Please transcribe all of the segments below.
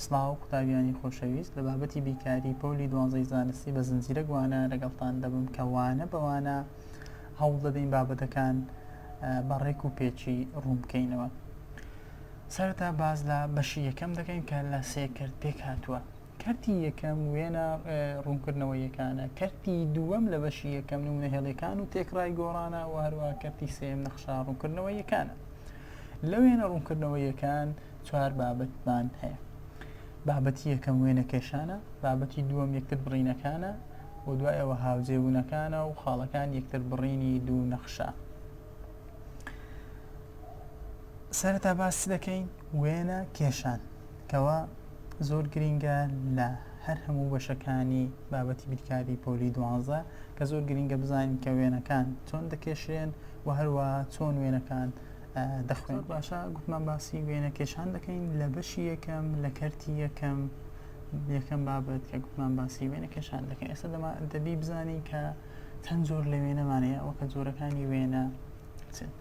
سڵاو قوتابیانی خۆشەویست لە بابەتی بیکاری پۆلی دوانزەی زانستی بە زنجیرەک وانە لەگەڵتان دەبم کە وانە بە وانە هەوڵ دەدەین بابەتەکان بە ڕێک و پێچی ڕوون بکەینەوە سەرەتا باز لە بەشی یەکەم دەکەین کە لە سێ کرد پێک هاتووە کەرتی یەکەم وێنە ڕوونکردنەوە یەکانە کەرتی دووەم لە بەشی یەکەم نمونە هێڵەکان و تێکڕای گۆڕانە و هەروە کەرتی سێم نەخشا ڕوونکردنەوە یەکانە لە وێنە ڕوونکردنەوە یەکان چوار بابەتمان هەیە بابەتی یەکەم وێنەکێشانە بابەتی دووەم یەکتر بڕینەکانە و دوای ئەوە هاوجێبوونەکانە و خاڵەکان یەکتر بڕینی دوو نەخشە سەرەتا باس دەکەین وێنە کێشان کەوا زۆر گرینگە لە هەر هەموو بەشەکانی بابەتی بیرکاری پۆلی دوانزە کە زۆر گرینگە بزانین کە وێنەکان چۆن دەکێشرێن و هەروە چۆن وێنەکان دەخوێنم باشە گوتمان باسی وێنە کێشان دەکەین لە بەشی یەکەم لە کەرتی یەکەم یەکەم بابەت کە گوتمان باسی وێنە کێشان دەکەین ئێستا دەما دەبی بزانین کە چەند زۆر لە وێنەمانەیە ئەوە کە زۆرەکانی وێنە چێت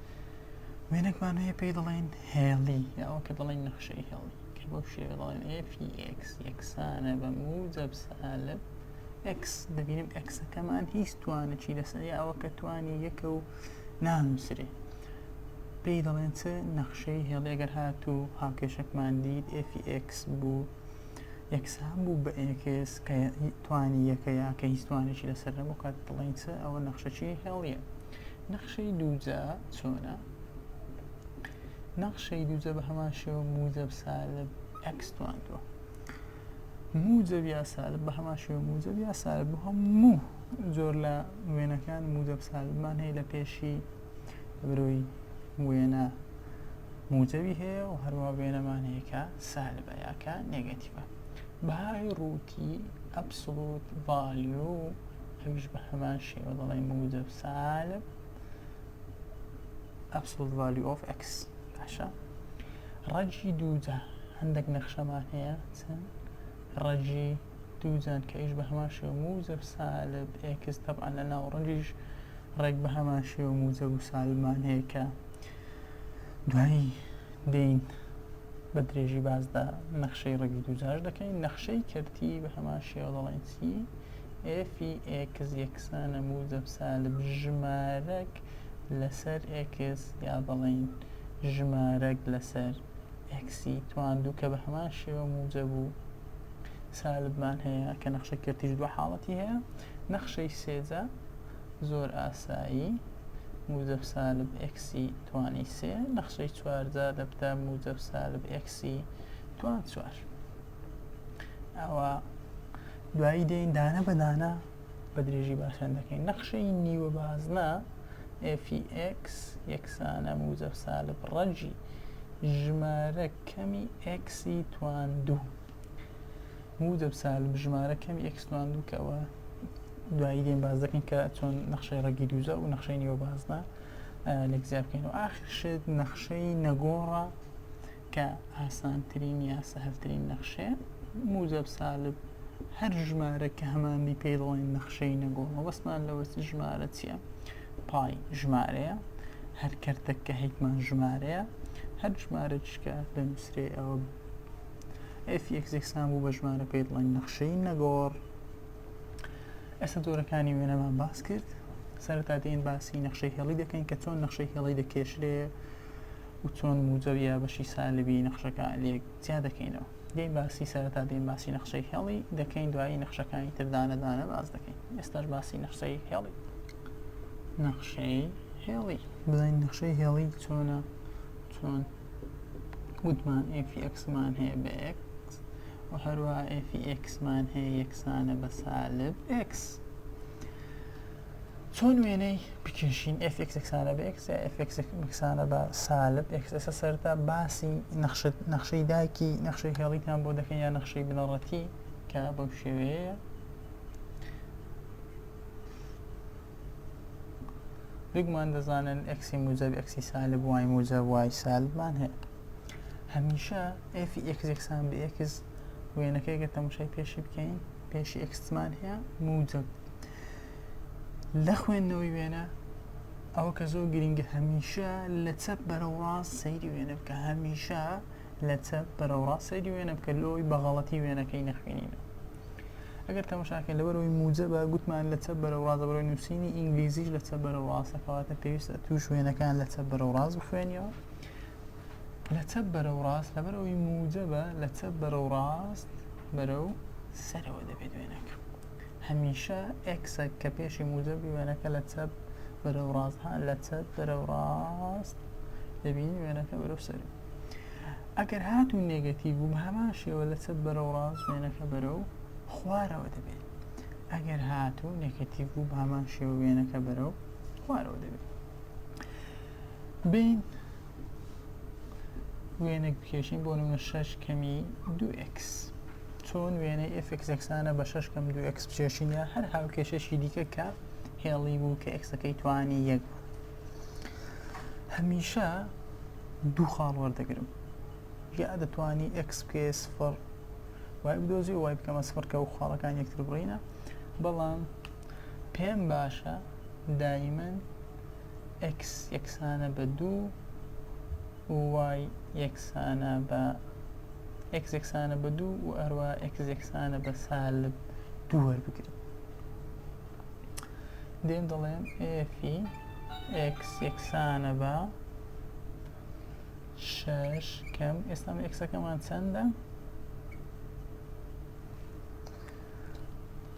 وێنەکمان هەیە پێی دەڵێن هێڵی یاوە کە دەڵێن نەخشەی هێڵی کە بەو شێوە دەڵێن FX یەکسانە بە موجب سالب X دەبینم ئەکسەکەمان هیچ توانێکی لەسەر ئەوە کە توانی یەکە و نانووسرێ پێی دەڵێن چ نەخشەی هێڵی ئەگەر هاتوو هاوکێشەکمان دیت ئێفی ئێکس بوو یەکسان بوو بە ئێکس کە توانی یەکە یا کە هیچ توانێکی لەسەر نەبوو کات دڵین چ ئەوە نەخشەکی هێڵیە نەخشەی دووجا چۆنە نەخشەی دووجە بە هەمان شێوە موجب سالب ئەکس تواندوە موجب یا سالب بە هەمان شێوە موجب یا سالب بۆ هەموو زۆر لە وێنەکان موجەب سالبمان هەیە لە پێشی برۆی وێنە موجەوی هەیە و هەروە وێنەمان هەیە کە سالبە یاکە نێگەتیڤە بەهای ڕووتی ئەبسڵوت ڤالیۆ ئەویش بە هەمان شێوە دەڵێ موجەب سالب ئەبسڵوت ڤالیۆ ئۆف ئەکس باشە ڕەجی دووجا هەندێک نەخشەمان هەیە چەند ڕەجی دوو جانکەیش بە هەمان شێوە موجب سالب ئێکس تەبعەن لە ناوەڕۆکیش ڕێک بە هەمان شێوە موجب و سالبمان هەیە کە دوایی دێین بە درێژی باسدا نەخشەی ڕەگی دووجاش دەکەین نەخشەی کەرتی بە هەمان شێوە دەڵێن چی ئێفی ئێکس یەکسانە موجب سالب ژمارەک لەسەر ئێکس یا دەڵێن ژمارەک لەسەر ئێکسی تواندوو کە بە هەمان شێوە موجب و سالبمان هەیە کە نەخشەی کەرتیش دوو حاڵەتی هەیە نەخشەی سێجا زۆر ئاسایی موجب سالب ئەکسی توانی سێ نەخشەی چوارجا دەبتە موجب سالب ئەکسی توان چوار ئەوە دوایی دێن دانە بەدانە بە درێژی باسیان دەکەین نەخشەی نیوە بازنە FX یەکسانە موزەف سالب ڕەجی ژمارە کەمی ئەکسی توان دوو موزەب سالب ژمارە کەمی ئەکسوان دوو کەەوە دوایی دێن باز دەکەین کە چۆن نەخشەی ڕەگی دووزە و نەخشەی نیوە بازنە لەک زیابکەین و ئاخر شێت نەخشەی نەگۆڕە کە ئاسانترین یا سەهلترین نەخشەیە، موجەب سالب هەر ژمارەک کە هەمانبی پێی دەڵێن نەخشەی نەگۆ، مەبەستمان لەوە چ ژمارە چیە؟ پای ژمارەیە، هەر کەرتەک کە هەیتمان ژمارەیە، هەر ژمارەکیش کە دەنووسرێ ئەوە ئێف ئێکس یەکسان بوو بە ژمارە پێی دەڵێن نەخشەی نەگۆڕ. ئێستا جۆرەکانی وێنەمان باس کرد، سەرەتا دێن باسی نەخشەی هێڵی دەکەین کە چۆن نەخشەی هێڵی دەکێشرێ، و چۆن موجە و یابەشی سالبی نەخشەکە لێک جیا دەکەینەوە دەین باسی سەرەتا دەین باسی نەخشەی هێڵی دەکەین دوایی نەخشەکانی تر دانە دانە باس دەکەین ئێستاش باسی نەخشەی هێڵی نەخشەی هێڵی بزانین نەخشەی هێڵی چۆنە چۆن وتمان ئفیکسمان هەیە بە ئکس و هەروە ئفیکسمان هەیە یەکسانە بە سالب ئکس چۆن وێنەی بکێشین ئێف ئێکس یەکسانە بە ئێکس یا ئێف ئێکس یەکسانە بە سالب ئێکس ئێستا سەرتا باسی نەخشت نەخشەی دایکی نەخشەی هێڵیتان بۆ دەکەین یا نەخشەی بنەڕەتی کە بەو شێوەیە بگمان دەزانن ئەکسی موجب ئەکسی سالب وای موجب وای سالبمان هەیە هەمیشە ئێفی ئێکس یەکسان بە ئێکس وێنەکەی گە تەمشای پێشی بکەین پێشی ئەکسمان هەیە موجب لە خوێندنەوەی وێنە ئەوە کە زۆر گرنگە هەمیشە لە چەپ بەرەو ڕاست سەیری وێنە بکە هەمیشە لە چەپ بەرەو ڕاست سەیری وێنە بکە لۆی بەغەڵەتی وێنەکەی نەخوێنینە ئەگەر تەمەشاکە لەبەرەوەی موجە بە گوتمان لە چەپ بەرەو ڕاستە بەرەوەی نووسینی ئینگلیزیش لە چەپ بەرەو ڕاستە کەواتە پێویستە توش وێنەکان لە چەپ بەرەو ڕاست بخوێنیەوە لە چەپ بەرەو ڕاست لەبەرەوەی موجە بە لە چەپ بەرەو ڕاست بەرەو سەرەوە دەبێت وێنەکە هەمیشە ئێکسە کە پێشی موجەبی وێنەکە لە چەپ بەرەو ڕاست ها لە چەپ بەرەو ڕاست دەبینی وێنەکە بەرەو سەری ئەگەر هات و نێگەتیڤ و هەمان شێوە لە چەپ بەرەو ڕاست وێنەکە بەرەو خوارەوە دەبێت ئەگەر هات و نێگەتیڤ بوو بە هەمان شێوە وێنەکە بەرەو خوارەوە دەبێت بین وێنێک بکێشین بۆ نمە شەش کەمی دو ئکس چوون وێنەی ئفکس یەکسانە بە شش کەم دو ئەکس بچێشینە هەر هاوکێشەشی دیکە کە هێڵی بوو کە ئەکسەکەی توانی یەک بوو هەمیشە دوو خاڵ وەردەگرم یا دەتوانی ئەکس بکێ سفر وای بدۆزی وای بکەمە سفر کە و خاڵەکان یەکتر بڕینە بەڵام پێم باشە دایمەن ئەکس یەکسانە بە دوو و وای یەکسانە بە ئێکس یەکسانە بە دوو و هەروە ئێکس یەکسانە بە سالب دوو وەربگرم دێن دەڵێم ئێفی ئێکس یەکسانە بە شش کەم ئێستا ئێکسەکەمان چەندە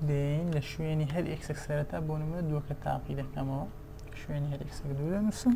دێن لە شوێنی هەر ئێکسێک سەرەتا بۆ نمە دووەکە تاقی دەکەمەوە شوێنی هەر ئێکسێک دوو دەنووسم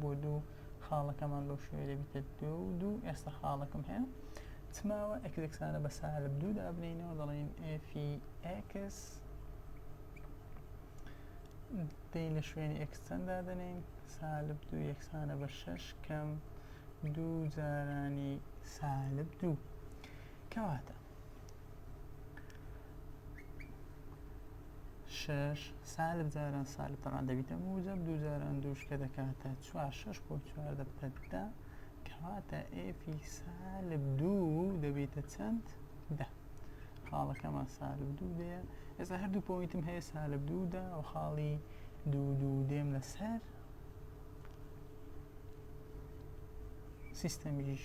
بۆ دوو خاڵەکەمان بەو شوێ دەبیتە دو دوو ئێستا خاڵەکەم هەیە چماوە ئەکسانە بە سالب دوو دابنینەوە دەڵێن ئفی ئەکس دەی لە شوێنی ئەکسچەند دادەنین سالب دوو یەکسانە بە شەش کەم دوو جارانی سالب دوو کەواتە شەش سالب جاران سالب تەمان دەبیتە موجب دوو جاران دووش کە دەکاتە چوار شەش بۆ چوار دەبتە دە کەواتە ئێفی سالب دوو دەبیتە چەند دە خاڵەکەمان سالب دوو دەیە ئێستا هەردوو پۆینتم هەیە سالب دوودا و خاڵی دوو دوو دێم لەسەر سیستەمیش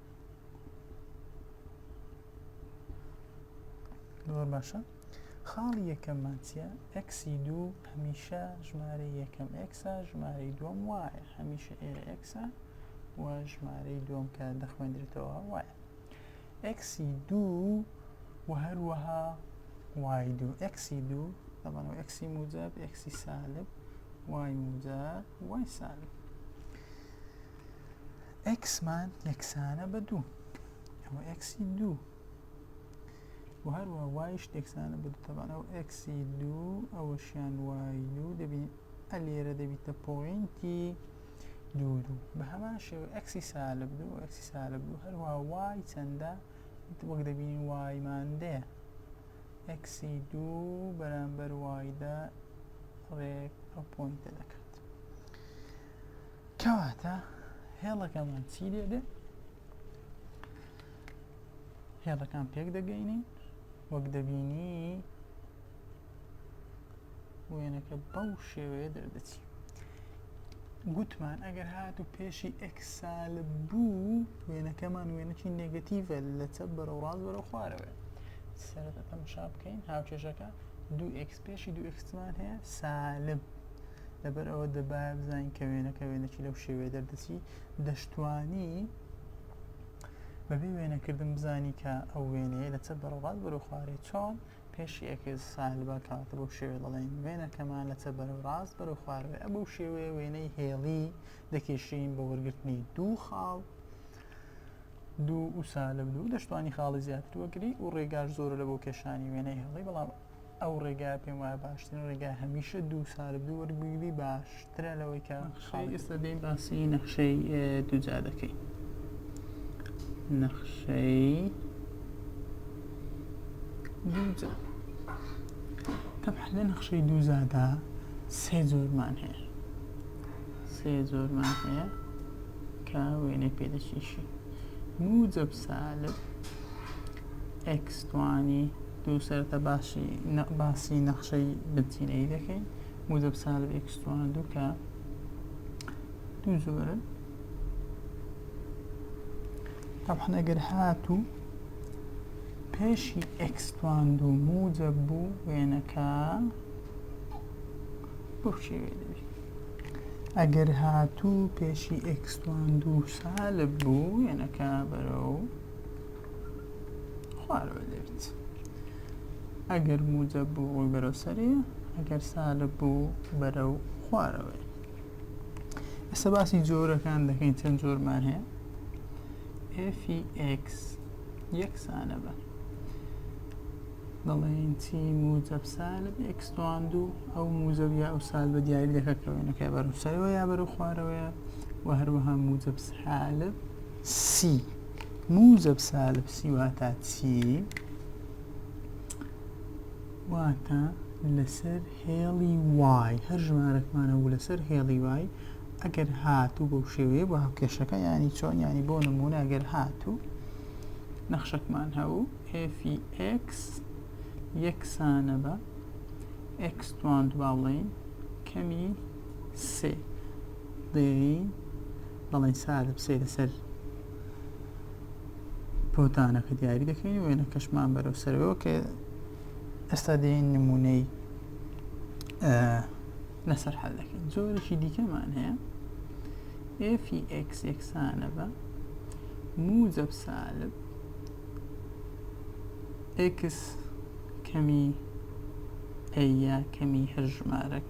زۆر باشە خاڵی یەکەممان چیە ئەکسی دوو هەمیشە ژمارە یەکەم ئەکسا ژمارەی دووەم وایە هەمیشە ئێرە ئەکسا و ژمارەی دووەم کە دەخوێندرێتەوە وایە ئەکسی دوو و هەروەها وای دوو ئەکسی دوو دەڵانەوە ئەکسی موجب ئەکسی سالب وای موجب وای سالب ئەکسمان یەکسانە بە دوو ئەوە ئەکسی دوو و هەروە وایش تێکسانە بە دوتەبانە و ئەکسی دوو ئەوەشیان وای دوو دەبین ئە لێرە دەبیتە پۆینتی دوو دوو بە هەمان شێوە ئەکسی سالب دوو ئەکسی سالب دوو هەروە وای چەندە وەک دەبین وای ماندەیە ئەکسی دوو بەرامبەر وایدا ڕێک ئەو پۆینتە دەکات کەواتە هێڵەکەمان چی لێ دێ هێڵەکان پێک دەگەینی وەک دەبینی وێنەکە بەو شێوەیە دەردەچی گوتمان ئەگەر هات و پێشی ئەکسال بوو وێنەکەمان وێنەکی نگەتیڤە لە چە بەرە ڕاز بەرە خوارەوە سەرەتا تەمەشا بکەین هاوکێشەکە دو ئکس پێشی دو ئکسمان هەیە سالب لەبەر ئەوە دەبایە بزانین کە وێنەکە وێنەکی لەو شێوەیە دەردەچی دەشتوانی بەبێ وێنەکردن بزانی کە ئەو وێنەیە لە چە بەرەڵات بەرو خوارێ چۆن پێشی ئەکرد سالبا کاتە بەو شێوێ دەڵێن وێنەکەمان لە چە بەرە ڕاست بەرو خوارێ ئە بەو شێوێ وێنەی هێڵی دەکێشین بە وەرگرتنی دوو خاڵ دوو و سالب دوو دەشتوانی خاڵی زیاتر وەگری و ڕێگار زۆر لە بۆ کێشانی وێنەی هێڵی بەڵام ئەو ڕێگایە پێم وایە باشترین ڕێگا هەمیشە دوو ساردی وەرگگری باشترە لەوەی کە ئێستا دەین باسی نەخشەی دوجا دەکەی نەخشەی دوجا تەبحلە نەخشەی دووزادا سێ زۆرمان هەیە سێ زۆرمان هەیە کە وێنەی پێدەشیشی موجب سالب ئەکسوانی تۆ سەرەتا باشی باسی نەخشەی بنچینەیی دەکەی موجب سالب ئێکس توانە دوو کە دوو زۆرن طبعا ئەگەر هاتوو پێشی ئێکس توان دوو موجب بوو وێنەکە بخشێوێ دەبی ئەگەر هاتوو پێشی ئێکس توان دوو سالب بوو وێنەکە بەرەو خوارەوە دێت ئەگەر موجە بوو ڕووی بەرەو سەری ئەگەر سالە بوو بەرە و خوارەوەی ئێستا باسی جۆرەکان دەکەین چەند جۆرمان هەیە FX یەکسانە بە دەڵێن چی موجب سالب ئەکسوان دوو ئەو موجب یا ئەو سال بە دیاری دەکەکەوێنەکە بەرەو سەرەوە یا بەرەو خوارەوەیە و هەروەها موجب سالب سی موجب سالب سی واتا چی؟ واتا لەسەر هێڵی وای هەر ژمارەکمانە و لەسەر هێڵی وای ئەگەر هاتوو بەو شێوەیە بە هەکێشەکە ینی چۆن ینی بۆ نمونە ئەگەر هاتوو نەخشەکمان هەبوو FX یەکسانە بە X توان دوباڵین کەمی سێ دەیەوی بەڵێ سارە بچێ لەسەر بۆتانەکە دیاری دەکەین وێنە کەشمان بەرەو سەرەوە کە ئێستا دێن نمونەی لەسەر حل دەکەین زۆرێکی دیکەمان هەیە FX یەکسانە بە موجب سالب X کەمی ئەیە کەمی هەر ژمارەک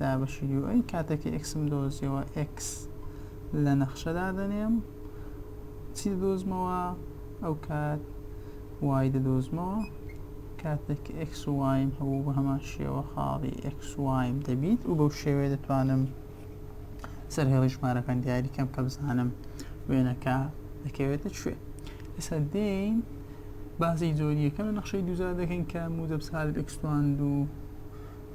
دابەشی یو ئەی کاتێک ئێکسم دۆزیەوە ئێکس لە نەخشە دادەنێم چی دۆزمەوە ئەو کات وای دەدۆزمەوە کاتێک ئێکس وایم هەبوو بە هەمان شێوە خاڵی ئێکس وایم دەبیت و بەو شێوێ دەتوانم سەر هێڵی ژمارەکان دیاری کەم کە بزانم وێنەکە دەکەوێتە کوێ ئێستا دێین بازی زۆریەکە لە نەخشەی دوزار دەکەین کە مودەبسال ئەکسوان دوو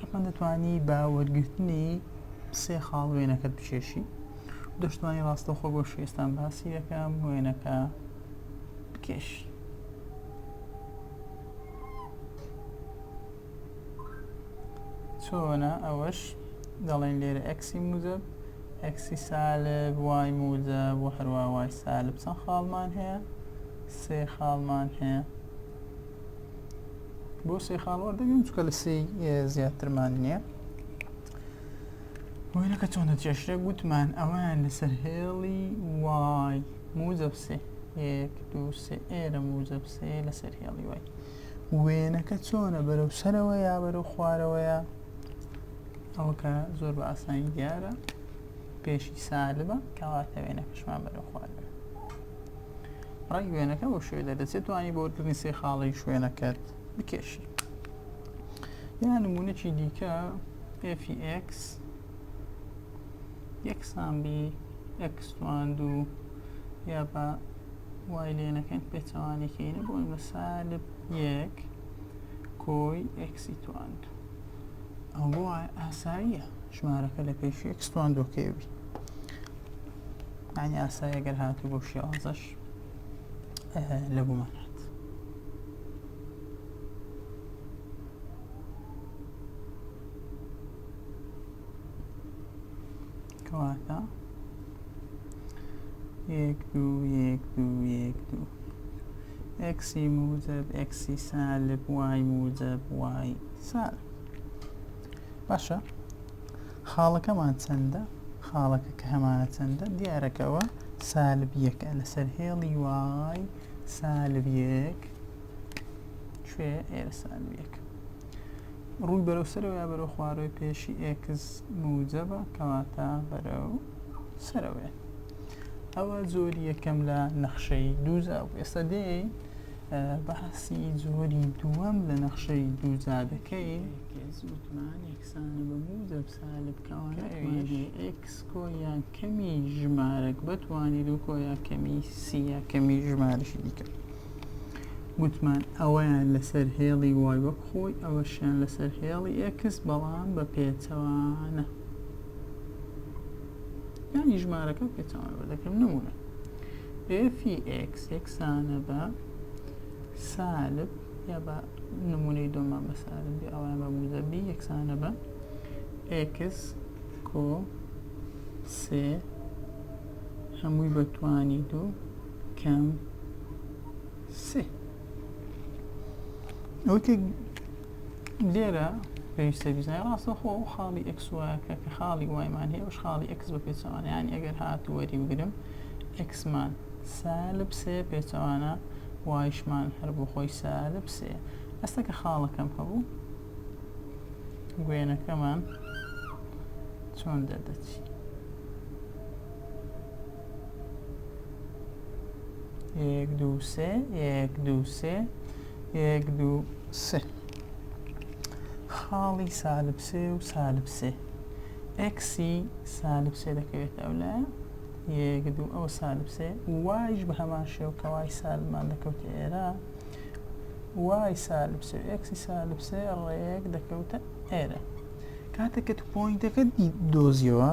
ئەتوان دەتوانی بە وەرگرتنی سێ خاڵ وێنەکەت بچێشی دەشتوانی ڕاستەخۆ بۆ شێستان باسی دەکەم وێنەکە بکێش چۆنە ئەوەش دەڵێن لێرە ئەکسی موزب ئەکسی سالب وای موزە بۆ هەروە وای سالب چەند خاڵمان هەیە سێ خاڵمان هەیە بۆ سێ خاڵ وەردەگرم چکە لە سێ زیاترمان نییە وێنەکە چۆنە چێشتێک گوتمان ئەویان لەسەر هێڵی وای موزەب سێ یەک دو سێ ئێرە موزەب سێ لەسەر هێڵی وای وێنەکە چۆنە بەرەو سەرەوە یا بەرەو خوارەوەیە ئەوکە زۆر بە ئاسانی دیارە پێشی سالبە کەواتە وێنەکەشمان بەرەو خوارەوە ڕەنگ وێنەکە بۆ شوێ دەدەچێت توانی بۆ وەرکردنی سێ خاڵی شوێنەکەت بکێشی یا نمونەی دیکە FX یەکسان بی ئەکسوان دوو یا بە وای لێنەکەین پێچەوانەکەینە بۆ ئەمە سالب یەک کۆی ئەکسی توان دوو ئەوە ئاساییە ژمارەکە لە پێشی ئەکسوان دووکەوی يعني ئاسای ئەگەر هاتو بەو شێوازەش لە گومان هات کەواتە یەک دوو یەک دوو یەک دوو ئەکسی موجب ئەکسی سالب وای موجب وای سالب باشە خاڵەکەمان چەندە خاڵەکە کە هەمانە چەندە دیارەکەەوە سالب یەکە لەسەر هێڵی وای سالب یەک کوێ ئێرە سالب یەک ڕووی بەرەو سەرەوە یا بەرەو خوارەوەی پێشی ئێکس موجەبە کەواتە بەرەو سەرەوەێ ئەوە زۆری یەکەم لە نەخشەی دووزا و ئێستا دێ باسی زۆری دووەم لە نەخشەی دووزا دەکەین ئێس وتمان یەکسانە بە موو دەب سالب کەوانە ئەویش ئێکس کۆیا کەمی ژمارەک بەتوانی دوو کۆیا کەمی سیە کەمی ژمارەشی دیکە گوتمان ئەوەیان لەسەر هێڵی وای وەک خۆی ئەوەشیان لەسەر هێڵی ئێکس بەڵام بە پێچەوانە یانی ژمارەکە پێچەوانە بە دەکەم نمونە ئێفی ئێکس یەکسانە بە سالب یا بە نموونەی دووەم مامۆستا ئارام بی ئەوەیان بە موجەب بی یەکسانە بە ئێکس کۆ سێ هەمووی بە توانی دوو کەم سێ ئەوتێک لێرە پێویستە بیزای ڕاستە خۆ ئەو خاڵی ئەکسواکە کە خاڵی وایمان هەیە ئەوش خاڵی ئەکس بە پێچەوانیان ئەگەر هات وەری بگرم ئەکسمان سالب سێ پێچەوانە وایشمان هەر بۆ خۆی سارد پسێ ئەستەکە خاڵەکەم هەبوو گوێنەکەمان چۆن دەردەچی یەک دوو سێ یەک دوو سێ یەک دوو سێ خاڵی سالب سێ و سالب سێ ئەکسی سالب سێ دەکەوێتە ئەو لایە یەک دوو ئەو سالب سێ وایش بە هەمان شێو کە وای سالبمان دەکەوتە ئێرە وای سالب سێ ئەکسی سالب سێ ڕێک دەکەوتە ئێرە کاتێککە تو پوینتەکە دۆزیەوە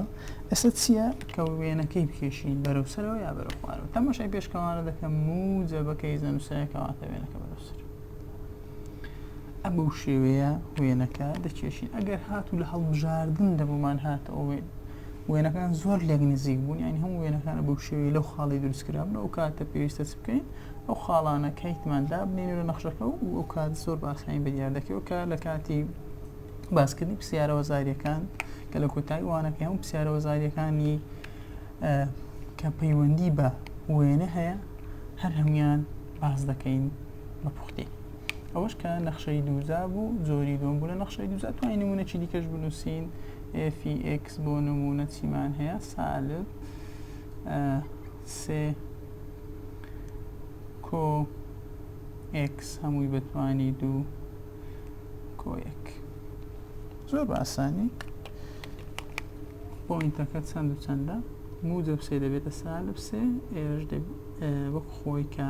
ئەسە چییە کە وێنەکەی بکێشین بەرەو سەرەوە یا بەرە خوارەوە تەمەشای پێشکەوانە دەکەم موجە بەکەی زەنووسەکەواتە وێنەکە بەرەو سەر ئە بەو شێوەیە وێنەکە دەکێشین ئەگەر هاتوو لە هەڵبژاردن دەبوومان هاتەوە وێن وێنەکان زۆر لێک نزیک بوون یعنی هەموو وێنەکانە بەو شێوەی لەو خاڵی دروستکرابن ئەو کاتە پێویستە چ بکەین ئەو خاڵانە کەیتمان دابنین لە نەخشەکە و ئەو کات زۆر باسانی بە دیار دەکەوە کە لە کاتی باسکردنی پرسیارەوە زاریەکان کە لە کۆتایی وانەکە هەموو پرسیارەوە زاریەکانی کە پەیوەندی بە وێنە هەیە هەر هەموان باز دەکەین بە پوختی ئەوەش کە نەخشەی دووزا بوو زۆری دوم بوو لە نەخشەی دووزا توانین نمونە چی دیکەش بنووسین FX بۆ نمونە چیمان هەیە سالب سێ کۆ X هەمووی بەتوانی دوو کۆ یەک زۆر باسانی پۆینتەکە چەند و چەندە موجب سێ دەبێتە سالب سێ ئێرش وەک خۆی کە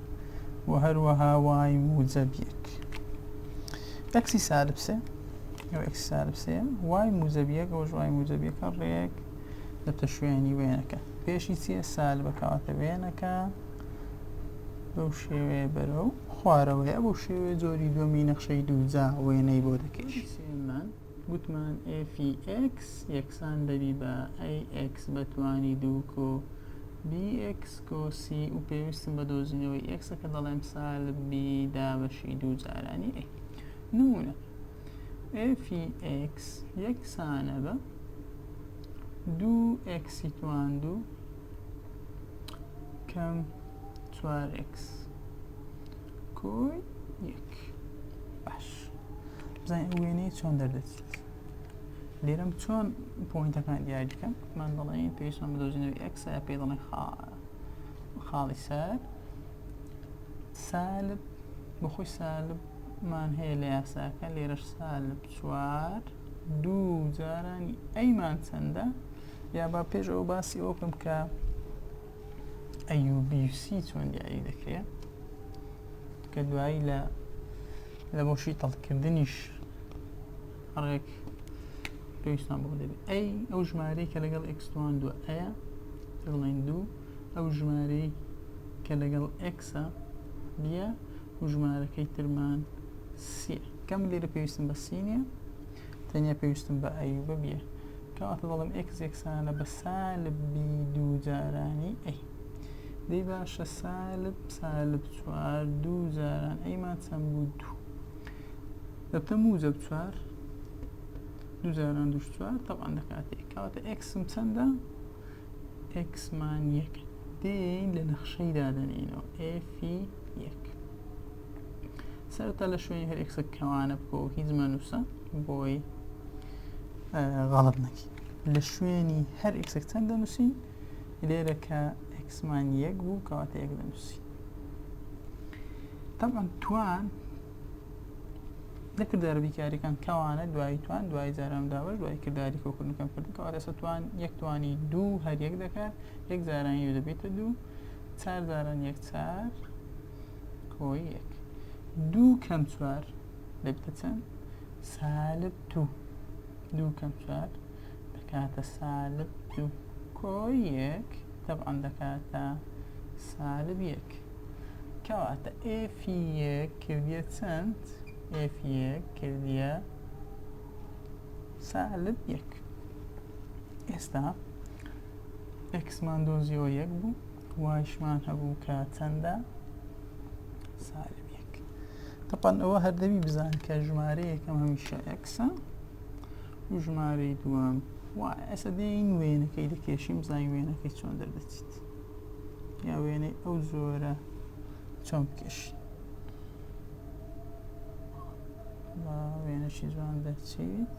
و هەروەها وای موجەب یەک ئەکسی سالب سێ ئەو ئەکسی سالب سێ وای موجەب یەک ئەوش وای موجەب یەکە ڕێک دەبتە شوێنی وێنەکە پێشی چیە سالبە کەواتە وێنەکە بەو شێوەیە بەرەو خوارەوەیە بۆ شێوێ جۆری دووەمی نەخشەی دووجا وێنەی بۆ دەکەیت گوتمان ئێفی ئێکس یەکسان دەبی بە ئەی ئێکس بە توانی دوو کۆ بی ئێکس کۆ سی و پێویستم بە دۆزینەوەی ئێکسە کە دەڵێم سال بی دابەشی دوو جارانی ئەی نمونە ئێفی ئێکس یەکسانە بە دوو ئێکسی توان دوو کەم چوار ئێکس کۆی یەک باش بزانین ئەو وێنەیە چۆن دەردەچێت لێرەم چۆن پۆینتەکان دیاری بکەم من دەڵێن پێشم بدۆزینەوە ئەکسە پێ دەڵێن خاڵی سەر سالب بەخۆی سالبمان هەیە لە یاساکە لێرەش سالب چوار دوو جارانی ئەیمان چەندە یا با پێش ئەو باسی ئەوکەم کە ئەیوبیسی چۆن دیاری دەکرێت کە دوایی لە لە بۆ شیتەڵکردنیش ڕێک پێویستان بۆ دەبێت ئەی ئەو ژمارەی کە لەگەڵ ئەکسوان دووە ئەیە دڵێن دوو ئەو ژمارەی کە لەگەڵ ئەکسە دیە و ژمارەکەی ترمان سیە کەم لێرە پێویستم بە سینە تەنیا پێویستم بە ئەیوبە بیە کەواتە دەڵێم ئێکس یەکسانە بە سالب بی دوو جارانی ئەی دەی باشە سالب سالب چوار دوو جاران ئەیمان چەند بوو دوو دەبتە موجب چوار دوو جاران دوو چوار تەبان دەکاتێک کەواتە ئێکسم چەندە ئێکسمان یەک دێین لە نەخشەی دادەنینەوە ئێفی یەک سەرەتا لە شوێنی هەر ئێکسە کەوانە بکۆ هیچ مەنووسە بۆی غەڵت نەکی لە شوێنی هەر ئێکسێک چەند دەنووسی لێرە کە ئەکسمان یەک بوو کەواتە یەک دەنووسی تەمان توان دەکرد دەربی کاریەکان کەوانە دوای توان دوای جاران داوە دوای کردداری کۆکردنەکەم کردن کەوا دەسە توان یەک توانی دوو هەر یەک دەکات یەک جارانی دەبێتە دوو چار جاران یەک چار کۆی یەک دوو کەم چوار دەبتە چەند سالب دوو دوو کەم چوار دەکاتە سالب دوو کۆی یەک تەبعان دەکاتە سالب یەک کەواتە ئێفی یەک کردە چەند ئێفی یەک کردە سالب یەک ئێستا ئەکسمان دۆزیەوە یەک بوو وایشمان هەبوو کە چەندە سالب یەک تەپەن ئەوە هەردەوی بزان کە ژمارە یەکەم هەمیشە ئەکسە و ژمارەی دووەم و ئەسە دێین وێنەکەی دەکێشیم زای وێنەکەی چۆن دەردەچیت یا وێنەی ئەو زۆرە چۆن بکێشین وێنەشی جوان دەچیت.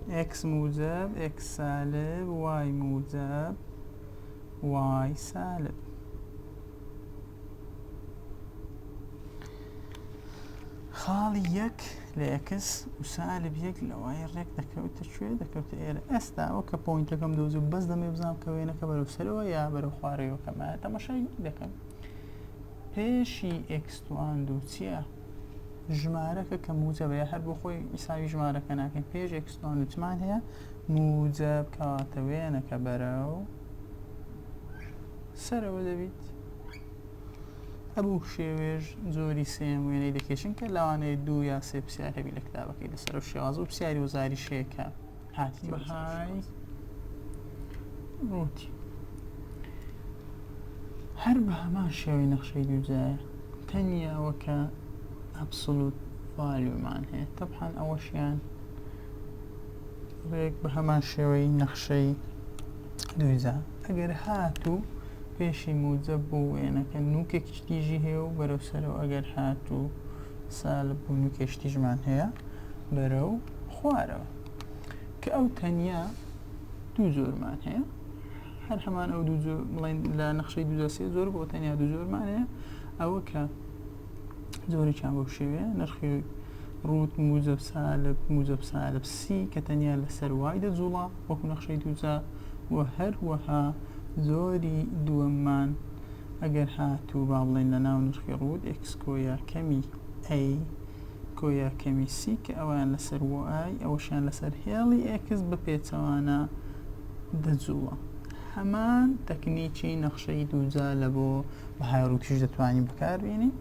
x موجب x سالب y موجب y سالب خاڵی یەک لە ئەکس و سالب یەک لەوای ڕێک دەکەوتە کوێ دەکەوتە ئێرە ئەستا ئەو کە پوینتەکەم دۆزی بەس دەمێ بزانام کە وێنەکە بەرەو سەرەوە یا بەرەو خوارەوە کەمە تەمەشای دەکەم پێشی ئێکس تواندو چیە ژمارەکە کە موجەبە یا هەر بۆ خۆی ئیساوی ژمارەکە ناکەین پێش ئێکس تواندو چمان هەیە موجەب کەواتە وێنەکە بەرەو سەرەوە دەبیت هەبوو شێوێژ زۆری سێم وێنەی دەکێشن کە لەوانەیە دوو یا سێ پرسیار هەبی لە کتابەکەی لەسەر و شێوازە و پرسیاری وزاری شەیەکە بەهای ڕووتی هەر بە هەمان شێوەی نەخشەی دووجایە تەنیا ئەوەکە ئەبسلوت ڤالیومان هەیە تەبحان ئەوەشیان ڕێک بە هەمان شێوەی نەخشەی دووجا ئەگەر هاتوو پێشی موجە بۆ وێنەکە نوکێک شتیژی هەیە و بەرەو سەرەوە ئەگەر هاتوو سالب بوونکێشتیژمان هەیە بەرەو خوارەوە کە ئەو تەنیا دوو جۆرمان هەیە هەر هەمان ئەو دوو جۆر بڵین لە نەخشەی دوو سێ زۆر بۆ تەنیا دوو جۆرمان هەیە ئەوە کە زۆری چان بەو شێوەیە نرخی ڕوت موزە سالب موزە سالب سی کە تەنیا لەسەر وای دەجوڵا وەکو نەخشەی دووزە و هەروەها زۆری دووەممان ئەگەر هاتوو با بڵێن لە ناو نرخی ڕوت ئەکسکۆیە کەمی ئەی گۆیا کەمی سی کە ئەویان لەسەر وە ئای ئەوەشیان لەسەر هێڵی ئێکس بە پێچەوانە دەجووڵە هەمان تەکنیکی نەخشەی دووجا لە بۆ بە هاروکیش دەتوانین بکاربیێنین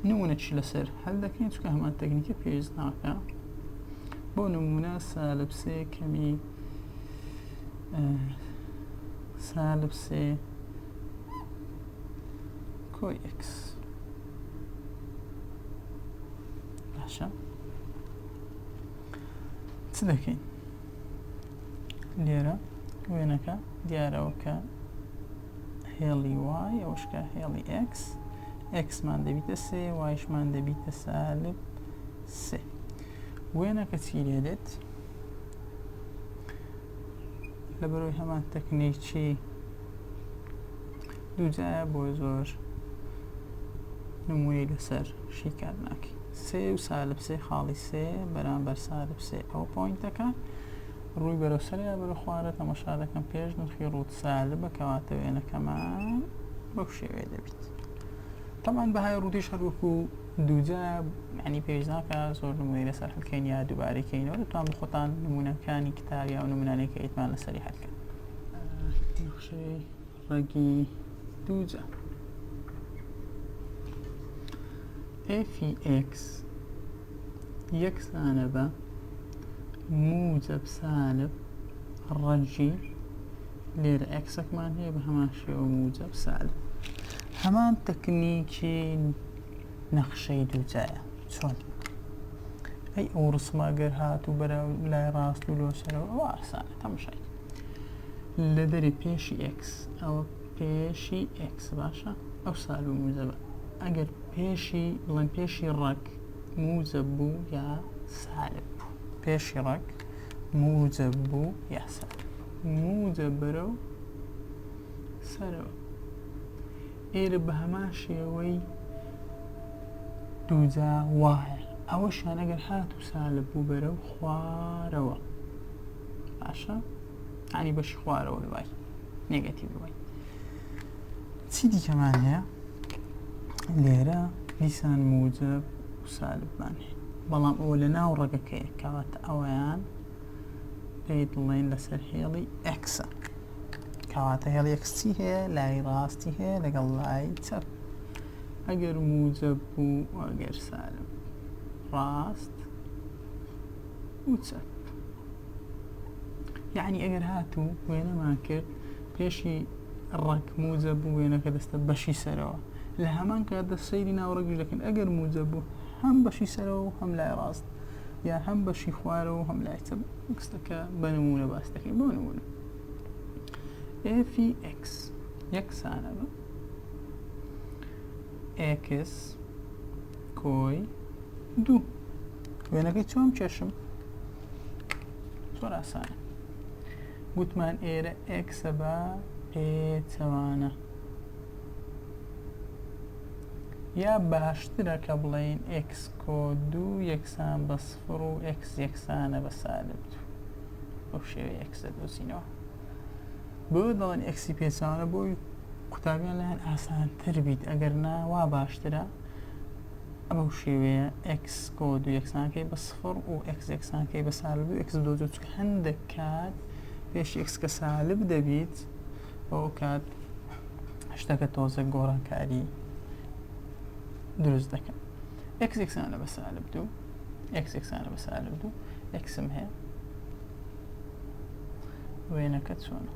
نمونەکی لەسەر هەل دەکەین چکە هەمان تەکنیکە پێویست ناکە بۆ نمونە سالبسێ کەمی سالبسێ کۆی ئکس باشە چ دەکەین لێرە وێنەکە دیارەوە کە هێڵی وای ئەوشکە هێڵی ئکس ئکسمان دەبیتە سێ وایشمان دەبیتە سالب سێ وێنەکە چی لێ دێت لە بەرەوەی هەمان تەکنیکی دووجایە بۆ زۆر نمونەی لەسەر شیکار ناکەی سێ و سالب سێ خاڵی سێ بەرامبەر سالب سێ ئەو پوینتەکە ڕووی بەرەو سەریا بەرە خوارە تەمەشا دەکەم پێش نرخی ڕووت سالب بەکەواتە وێنەکەمان بەو شێوێ دەبیت تەمان بەهای ڕوودیش هەروەکو دووجا یانی پێویست ناکا زۆر نمونەی لەسەر هەلکەین یا دووبارەی کەینەوە دەتوان بە خۆتان نمونەکانی کتاب یا و نمونانەی کە ئیتمان لەسەری هەلکەن نەخشەی ڕەگی دووجا FX یەکسانە بە موجب سالب ڕەگی لێرە ئەکسەکمان هەیە بە هەمان شێوە موجب سالب هەمان تەکنیکی نەخشەی دوو جایە چۆن ئەی ئەو ڕسمە گەر هات و بەرە لای ڕاست و لۆسەرەوە ئەو ئاسانە تەمشای لە دەری پێشی ئکس ئەوە پێشی ئکس باشە ئەو سال و موزەبە ئەگەر پێشی بڵێن پێشی ڕەک موزە بوو یا سالب بوو پێشی ڕەک موزە بوو یا سالب موزە بەرە و سەرەوە ئێرە بە هەمان شێوەی دووجا وایە ئەوەشیان ئەگەر هاتوو سالب بوو بەرە و خوارەوە باشە ئەنی بەشی خوارەوە دوای نێگەتی بووی چی دیکەمان هەیە لێرە دیسان موجب و سالبمان هەیە بەڵام ئەوە لە ناو ڕەگەکەی کەواتە ئەویان پێی دڵێن لەسەر هێڵی ئەکسە کەواتە هێڵی ئەکسی هەیە لای ڕاستی هەیە لەگەڵ لای چەپ ئەگەر موجب بوو ئەگەر سالب ڕاست و چەپ یعنی ئەگەر هاتوو وێنەمان کرد پێشی ڕەک موجە بوو وێنەکە دەستە بەشی سەرەوە لە هەمان کاتدا سەیری ناوڕەگیش دەکەن ئەگەر موجە بوو هەم بەشی سەرەوە و هەم لای ڕاست یا هەم بەشی خوارەوە هەم لای چەپ ئکسەکە بە نمونە باس دەکەین بۆ نمونە ئفی ئکس یەکسانە بە ئکس کۆی دوو وێنەکەی چۆن کێشم زۆر ئاسانە گوتمان ئێرە ئکسە بە ئێ چەوانە یا باشترە کە بڵێین x کۆ دوو یەکسان بە سفر و x یەکسانە بە سالب دوو بەو شێوەیە x دەدۆزینەوە بۆ دەڵێن x پێچوانە بۆی قوتابیان لەیان ئاسانتر بیت ئەگەر نا وا باشترە ئەمە شێوەیە x کۆ دوو یەکسانکەی بە سفر و x یەکسانکەی بە سالب دوو x دۆزە چکە هەندێک کات پێش x کە سالب دەبیت ئەو کات شتەکە تۆزە گۆڕانکاری دروست دەکەن ئەکس ئەکسانە بە سالب دوو ئەکس ئەکسانە بە سالب دوو ئەکسم هەیە وێنەکە چۆنە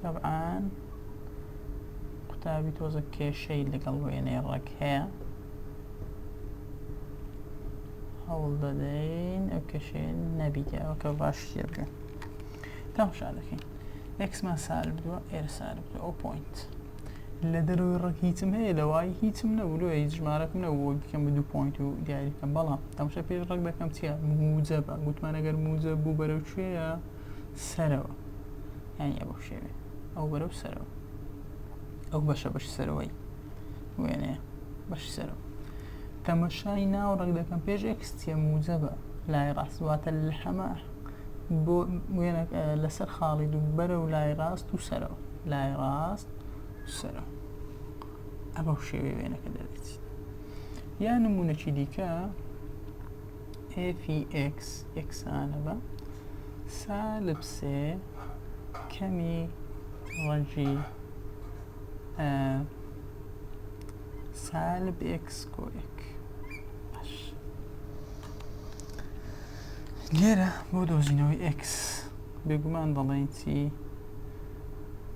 طبعا قوتابی تۆزە کێشەی لەگەڵ وێنەی ڕەک هەیە هەوڵ دەدەین ئەو کێشەیە نەبیتێ ئەوە کە باش شتێ بکەین تەماشا دەکەین ئێکسمان سار بدووە ئێرە سار بدووە ئەو پوینت لە دەروی ڕێک هیچم هەیە لە وای هیچم نەبوو لۆ هیچ ژمارەکم نەبوو بکەم بە دوو پوینت و دیاری بکەم بەڵام تەماشا پێش ڕێک دەکەم چیە موجە بە گوتمان ئەگەر موجە بوو بەرەو کوێە سەرەوە یانی ئەوە شێوێ ئەو بەرەو سەرەوە ئەو بەشە بەش سەرەوەی وێنەیە بەش سەرەوە تەمەشای ناو ڕەگ دەکەم پێش ئێکس چیە موجەبە لای ڕاست واتە لە حەمە بۆ وێنە لەسەر خاڵی دوو بەرە و لای ڕاست و سەرەوە لای ڕاست سەرە ئەمە شێوێ وێنەکە دەبێت یا نمونونەکی دیکە FX یەکسانە بە سالب سێ کەمی ڕەنگی سالب ئێکس کۆ ئێک باش لێرە بۆ دۆزینەوەی ئێکس بێگومان دەڵێن چی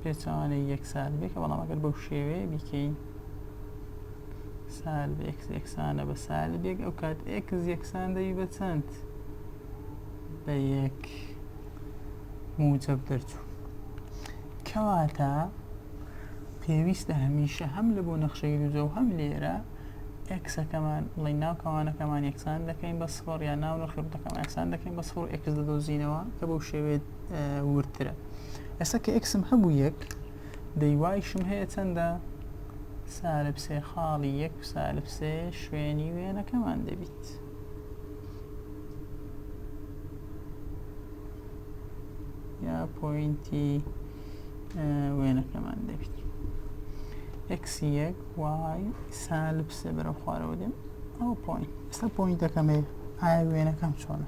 پێچوانەی یەک سالبێکە بەڵام ئەگەر بەو شێوەیە بیکەین سالب ئێکس ئێکسانە بە سالبێک ئەو کات ئێکس یەکسان دەوی بە چەند بە یەک موجب دەرچوو کەواتە پێویستە هەمیشە هەم لە بۆ نەخشەی دووجە و هەم لێرە ئەکسەکەمان بڵی ناو کەوانەکەمان یەکسان دەکەین بە سفر یا ناو نرخی ڕوتەکەمان یەکسان دەکەین بە سفر ئەکس دەدۆزینەوە کە بەو شێوێت وردترە ئێستا کە ئەکسم هەبوو یەک دەیوایشم هەیە چەندە سالب سێ خاڵی یەک سالب سێ شوێنی وێنەکەمان دەبیت. یا پوینتی وێنەکەمان دەبیت ئەکسی یەک وای سالب سێ بەرە خوارەوە دێم ئەو پۆین ئێستا پۆینتەکەم هەیە ئایا وێنەکەم چۆنە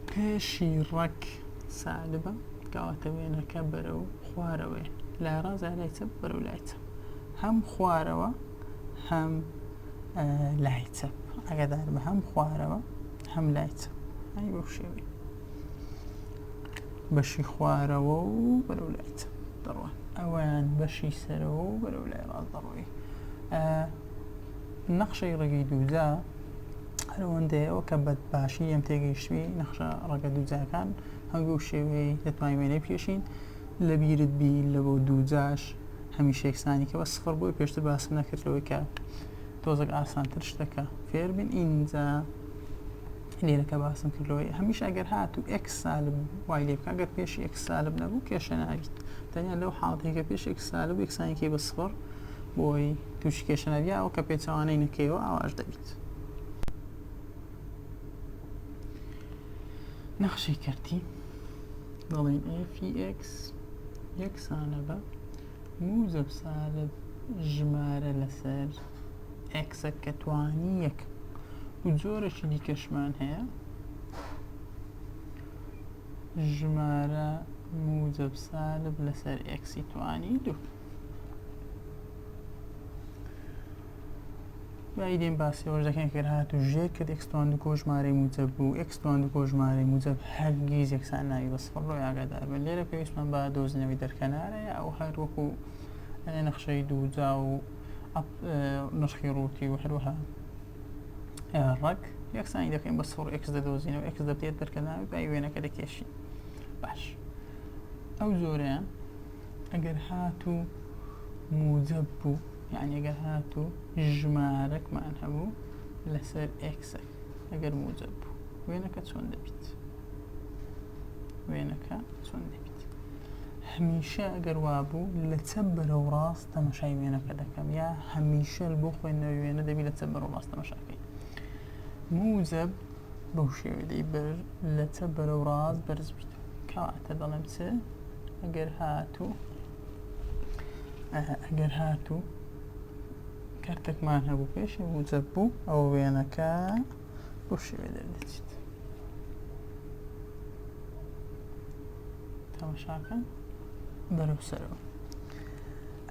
پێشی ڕەک سالبە کاواتە وێنەکە بەرە و خوارەوەی لای ڕاز لایچە بەرە و لایچە هەم خوارەوە هەم لایچە ئەگەدار بە هەم خوارەوە هەم لایچە ئەی بەو شێوەی بەشی خوارەوە و بەرەو لای چەپ دەڕۆن ئەوەیان بەشی سەرەوە و بەرەو لای ڕاست دەڕۆی نەخشەی ڕێگەی دووجا هەرەوەندەیەوە کە بە باشی ئەم تێگەیشتوی نەخشە ڕەگە دووجاکان هەنگوو شێوەیە دەتوانین وێنەی پێشین لە بیرت بی لە بۆ دووجاش هەمیشە یەکسانی کە بە سفر بۆی پێشتر باسم نەکردەوەی کە تۆزەک ئاسانتر شتەکە فێربن ئینجا لێرە کە باسم کرد لەوەی هەمیشە ئەگەر هات و ئێکس سالب وای لێ بکە گەر پێش ئێکس سالب نەبوو کێشە ناویست تەنیا لەو حاڵەتێکە پێش ئێکس سالب یەکسانێکی بە سفر بۆی تووشی کێشە ناویە ئەو کە پێچەوانەی نەکەیەوە ئاواش دەبیت نەخشەی کردی دەڵێن FX یەکسانە بە موزەب سالب ژمارە لەسەر ئێکسەک کە توانی یەک و جۆرەکی دیکەشمان هەیە ژمارە موجب سالب لەسەر ئێکسی توانی دوو بایدێن باسیەوەش دەکەن کە هات و ژێر کرد ئەکسستوان دو کۆژمارەی موجب بوو ئەکسستوان دو کۆژمارەی موجب هەرگیز یەکسان ناوی بە سفر ڕۆی ئاگادار بن لێرە پێویستمان بە دۆزینەوەی دەرکەنارەیە ئەو هەروەکو نەخشەی دووجا و ئەپ نرخی ڕووتی و هەروەها ڕەک یەکسانی دەکەین بە سوڕ ئەکس دەدۆزینەوە ئەکس دەبێت دەرکەناوی بای وێنەکە دەکێشی باش ئەو زۆرەیان ئەگەر هاتوو موجب بوو یعنی ئەگەر هاتوو ژمارەکمان هەبوو لەسەر ئەکسە ئەگەر موجب بوو وێنەکە چۆن دەبیت وێنەکە چۆن دەبیت هەمیشە ئەگەر وابوو لە چەپ بەرەو ڕاست تەماشای وێنەکە دەکەم یا هەمیشەل بۆ خوێندنەوەی وێنە دەبی لە چە بەرەو ڕاست تەماشاکەی موزەب بەو شێوێ دەی بەر لە چە بەرەو ڕاست بەرز بیت کەواتە دەڵێم چ ئەگەر هاتوو ئەگەر هاتوو کەرتێکمان هەبوو پێشی موزەب بوو ئەو وێنەکە بۆ شێوێ دەردەچیت تەماشاکە بەرەو سەرەوە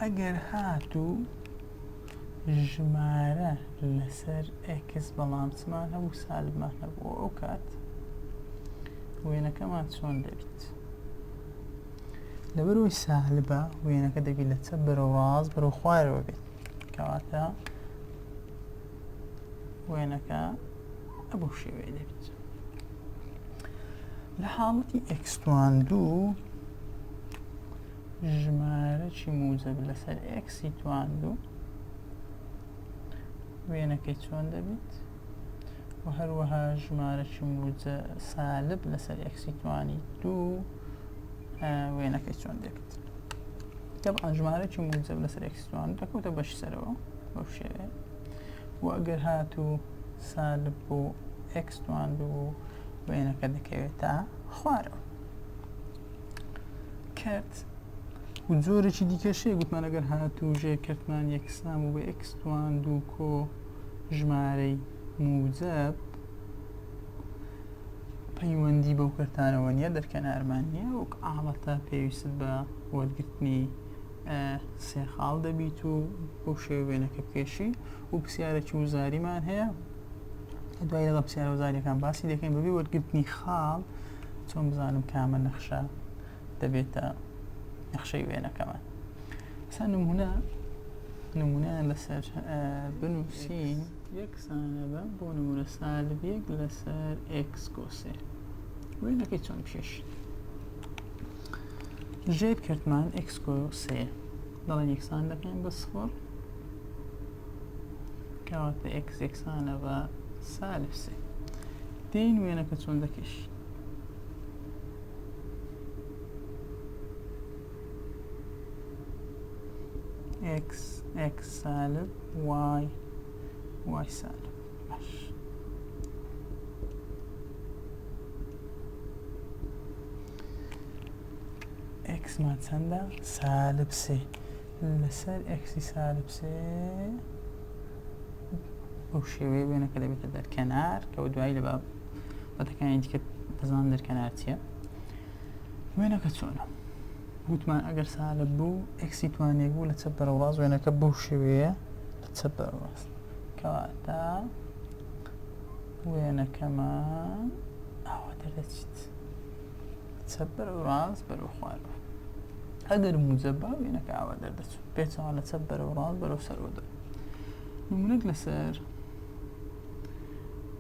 ئەگەر هاتوو ژمارە لەسەر ئێکس بەڵانسمان هەبوو سالبمان هەبوو ئەو کات وێنەکەمان چۆن دەبیت لەبەرەوەی سالبە وێنەکە دەبی لە چە بەرەوە ڕاست بەرەو خوارەوە بێت کەواتە وێنەکە ئەبو شێوەیە دەبیت لە حاڵەتی ئەکسوان دوو ژمارەکی موجەب لەسەر ئێکسی تواندو وێنەکەی چۆن دەبیت و هەروەها ژمارەکی موجە سالب لەسەر ئێکسی توانی دوو وێنەکەی چۆن دەبیت طبعا ژمارەکی موجەب لەسەر ئێکسی توان دەکەوتە بەش سەرەوە بەو شێوێ و ئەگەر هاتو سالب بۆ ئێکس تواندو وێنەکە دەکەوێتە خوارەوە کرد و جۆرێکی دیکەشەیە گوتمان ئەگەر هاتوو ژێ کردمان یەکسان و بە ئەکسوان دوو کۆ ژمارەی موجب پەیوەندی بەو کردانەوە نیە دەرکەنارمان نیە وەک ئاڵەتە پێویست بە وەرگرتنی سێ خاڵ دەبیت و بۆ شێوێنەکە کێشی و پرسیارێکی وزاریمان هەیە دوای لەگەڵ پرسیارە وزاریەکان باسی دەکەین بەبی وەرگرتنی خاڵ چۆن بزانم کامە نەخشە دەبێتە نەخشەی وێنەکەمان سا نمونە نمونە لەسەر بنووسین یەکسانە بە بۆ نمونە سالبیەک لەسەر ئکسکۆسێ وێنەکەی چۆن پێش ژێر کردمان ئکسکۆسێ دەڵێن یەکسان دەکەین بە سفر کەواتە ئێکس یەکسانە بە سالب سێ دێین وێنەکە چۆن دەکێش ئێکس ئێکس سالب وای وای سالب باش ئێکسمان چەندە؟ سالب سێ لەسەر ئێکسی سالب سێ بەو شێوەیە وێنەکە دەبێتە دەرکەنار کەەوە دوایی لە باب بەتەکانی دیکە دەزان دەرکەنار چیە وێنەکە چۆنە وتمان ئەگەر سالە بوو ئەکسی توانێک بوو لە چە بەرەڕاز وێنەکە بەو شێوەیە لە چە بەڕاز کەواتە وێنەکەمان ئاوا دەردەچیت چەپ بەرەو ڕاست بەرەو خوارەوە ئەگەر موجە با وێنەکە ئاوا دەردەچوو پێچەوە لە چەپ بەرەو ڕاست بەرەو سەرەوە دەر نمونەت لەسەر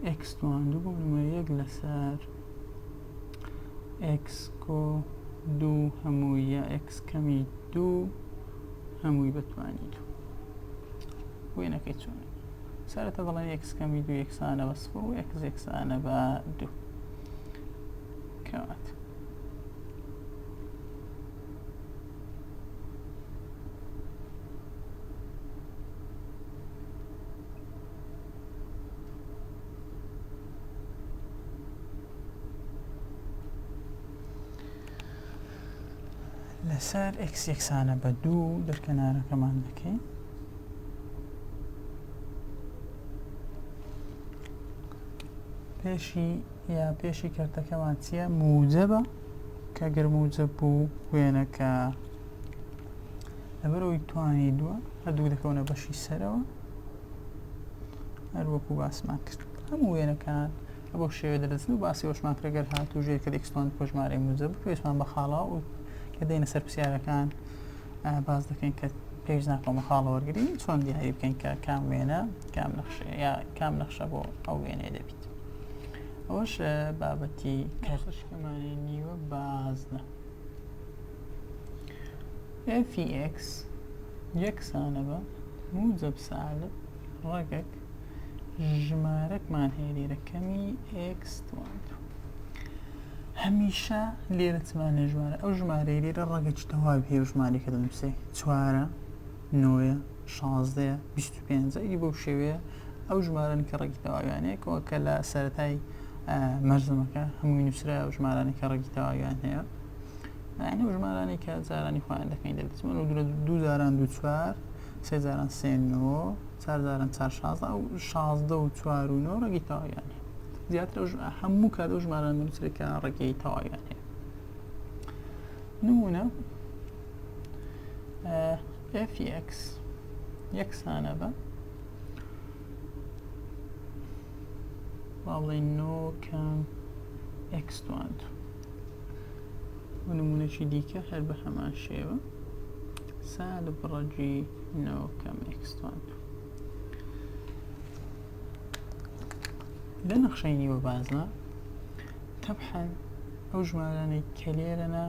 ئکس دوان دوو بۆ نمە یەک لەسەر ئکس کۆ دوو هەمووی یا ئکس کەمی دوو هەمووی بەتوانی دوو وێنەکەی چۆن سەرەتا دەڵێن ئکس کەمی دوو یەکسانە بە سفر و ئکس یەکسانە بە دوو کەوات. لەسەر ئەکس یەکسانە بە دوو دەرکەنارەکەمان دەکەین پێشی یا پێشی کەرتەکەمان چییە؟ موجەبە کە گەر موجەب بوو وێنەکە لەبەرەوەی توانی دووە هەردوو دەکەونە بەشی سەرەوە هەر وەکو باسمان کرد هەموو وێنەکان بۆ شێوێ دەدەزن و باسی وەشمان کرەگەر هاتوو ژێ کە دەکسمان کۆژمارەی موجەب پێشمان بە خاڵا و کە دێنە سەر پرسیارەکان باز دەکەین کە پێش ناکۆمە خاڵە وەرگری چۆن دیاری بکەین کە کام وێنە کام نەخشەیە یا کام نەخشە بۆ ئەو وێنەیە دەبیت ئەوەش بابەتی کەرتەکەمانی نیوە بازنە FEX یەکسانە بە موجب سالب ڕەگەک ژمارەکمان هەیە لێرە کەمی X هەمیشە لێرەتمانە ژمارە ئەو ژمارەی لێرە ڕەگەکی تەواوی هەیە ژمارەکە دەنووسێ چوارە نۆیە، شازدەیە، بیست و پێنجە، ی بەو شێوەیە ئەو ژمارەن کە ڕێکی تەواویانەیە کە کە لە سەرەتای مەرزەمەکە هەمووی نووسرا و ژمارانی کە ڕێکی تەواویان هەیە ئەو ژمارانی کە جارانی خۆیان دەکەین دەبزمن و درە دوو جاران دوو چوار سێ جاران سێ نۆ چار جاران چار شازدە ئەو شازدە و چوار و نۆ ڕێکی تەواویان هەیە زیاتر هەموو کات ئەو ژماران دەنووسرێکە ڕێکی تەواویان هەیە نمونە FX یەکسانە بە باڵێن نۆ کەم X دوان دوو ونمونەکی دیکە هەر بە هەمان شێوە سال بڕەجی نۆ کەم X دوان دوو لە نەخشەی نیوە بازە تەبحەن ئەو ژمارانەی کە لێرەە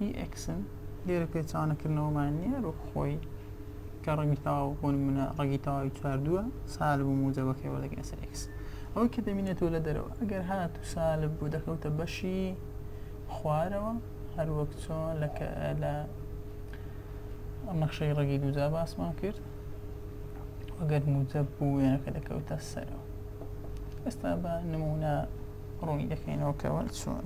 ی ئێکسن لێرە پێچەوانەکردنەوەمان نییە وەک خۆی کە ڕەنگی تەواو بۆ نمونە ڕەنگی تەواوی چواردووە سالب و موجەبەکەی وەردەگرێت سەر ئێکس ئەوەی کە دەبینێتەوە لە دەرەوە ئەگەر هات و سالب بوو دەکەوتە بەشی خوارەوە هەروەک چۆن لە لە نەخشەی ڕەگی دووجا باسمان کرد وەگەر موجەب بوو وێنەکە دەکەوتە سەرەوە ئێستا بە نمونە ڕوونی دەکەینەوە کەەوە چۆن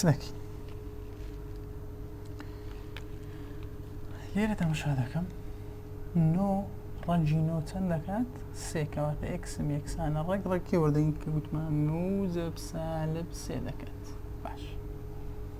سنەکی لێرە تەمەشا دەکەم نۆ ڕەنجی نۆ چەند دەکات سێکەواتە ئەکسم یەکسانە ڕێک ڕێکی وەردەنگ کە گوتمان نوزە پسالب سێ دەکات باش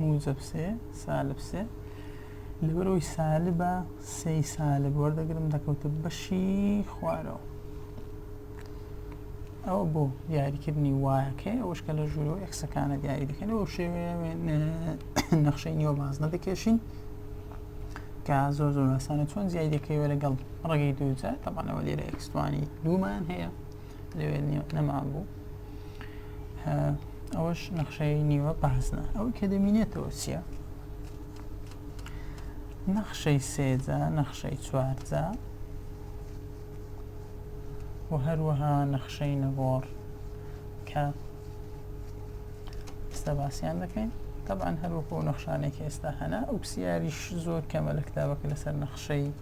موجب سێ سالب سێ لەبەرەوەی سالبە سێی سالب وەردەگرم دەکەوتە بەشی خوارەوە ئەوە بۆ دیاریکردنی وایەکەی ئەوش کە لە ژوورۆ ئەکسەکانە دیاری دەکەن ئەو شێوێ نەخشەی نیوە باز نەدەکێشین کە زۆر زۆر ئاسانە چۆن زیای دەکەیەوە لەگەڵ ڕێگەی دووجار تەبانەوە لێرە ئەکسوانی دوومان هەیە لەوێ نەمابوو ئەوەش نەخشەی نیوە پاسنە ئەو کە دەمینێتەوە چییە نەخشەی سێجا نەخشەی چوارجا و هەروەها نەخشەی نەگۆڕ کە ئێستا باسییان دەکەین طبعاان هەروەکو نەخشانێکی ئێستا هەنا ئۆکسسیاریش زۆر کەمە لە کتابەکە لەسەر نەخشەی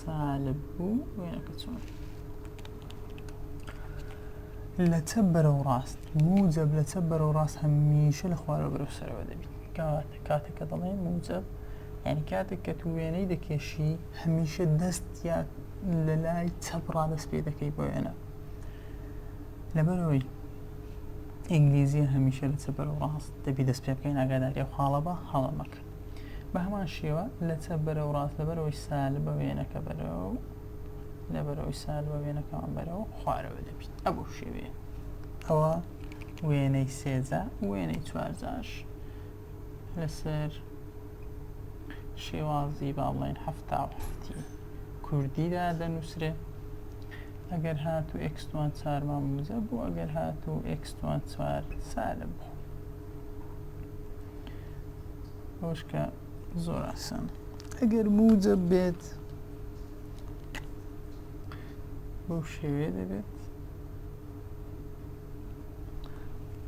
سالب بوو وێنەکە چۆن لە چەپ بەرەو ڕاست موجب لە چەپ بەرەو ڕاست هەمیشە لە خوارەوە بەرەو سەرەوە دەبیت کاتە کاتەکە دەڵێ موجب یعنی کاتێک کە تو وێنەی دەکێشی هەمیشە دەست یا لە لای چەپ ڕادەست پێ دەکەی بۆ وێنە لەبەرەوەی ئینگلیزیە هەمیشە لە چەپ بەرەو ڕاست دەبی دەست پێ بکەین ئاگاداری ئەو خاڵە بە هەڵەمەکە بە هەمان شێوە لە چەپ بەرەو ڕاست لە بەرەوەی سالب بە وێنەکە بەرەو لە بەرەوەی سالب بە وێنەکەمان بەرەو خوارەوە دەبیت ئەبو شێوەیە ئەوە وێنەی سێجا وێنەی چوارجاش لەسەر شێوازی با بڵێن هەفتا و هەفتی کوردیدا دەنووسرێ ئەگەر هات و ئەکسوان چارمان موزە بوو ئەگەر هات و ئەکسوان چوار سالب بوو ئەوشکە زۆر ئاسان ئەگەر موجە بێت بەو شێوێ دەبێت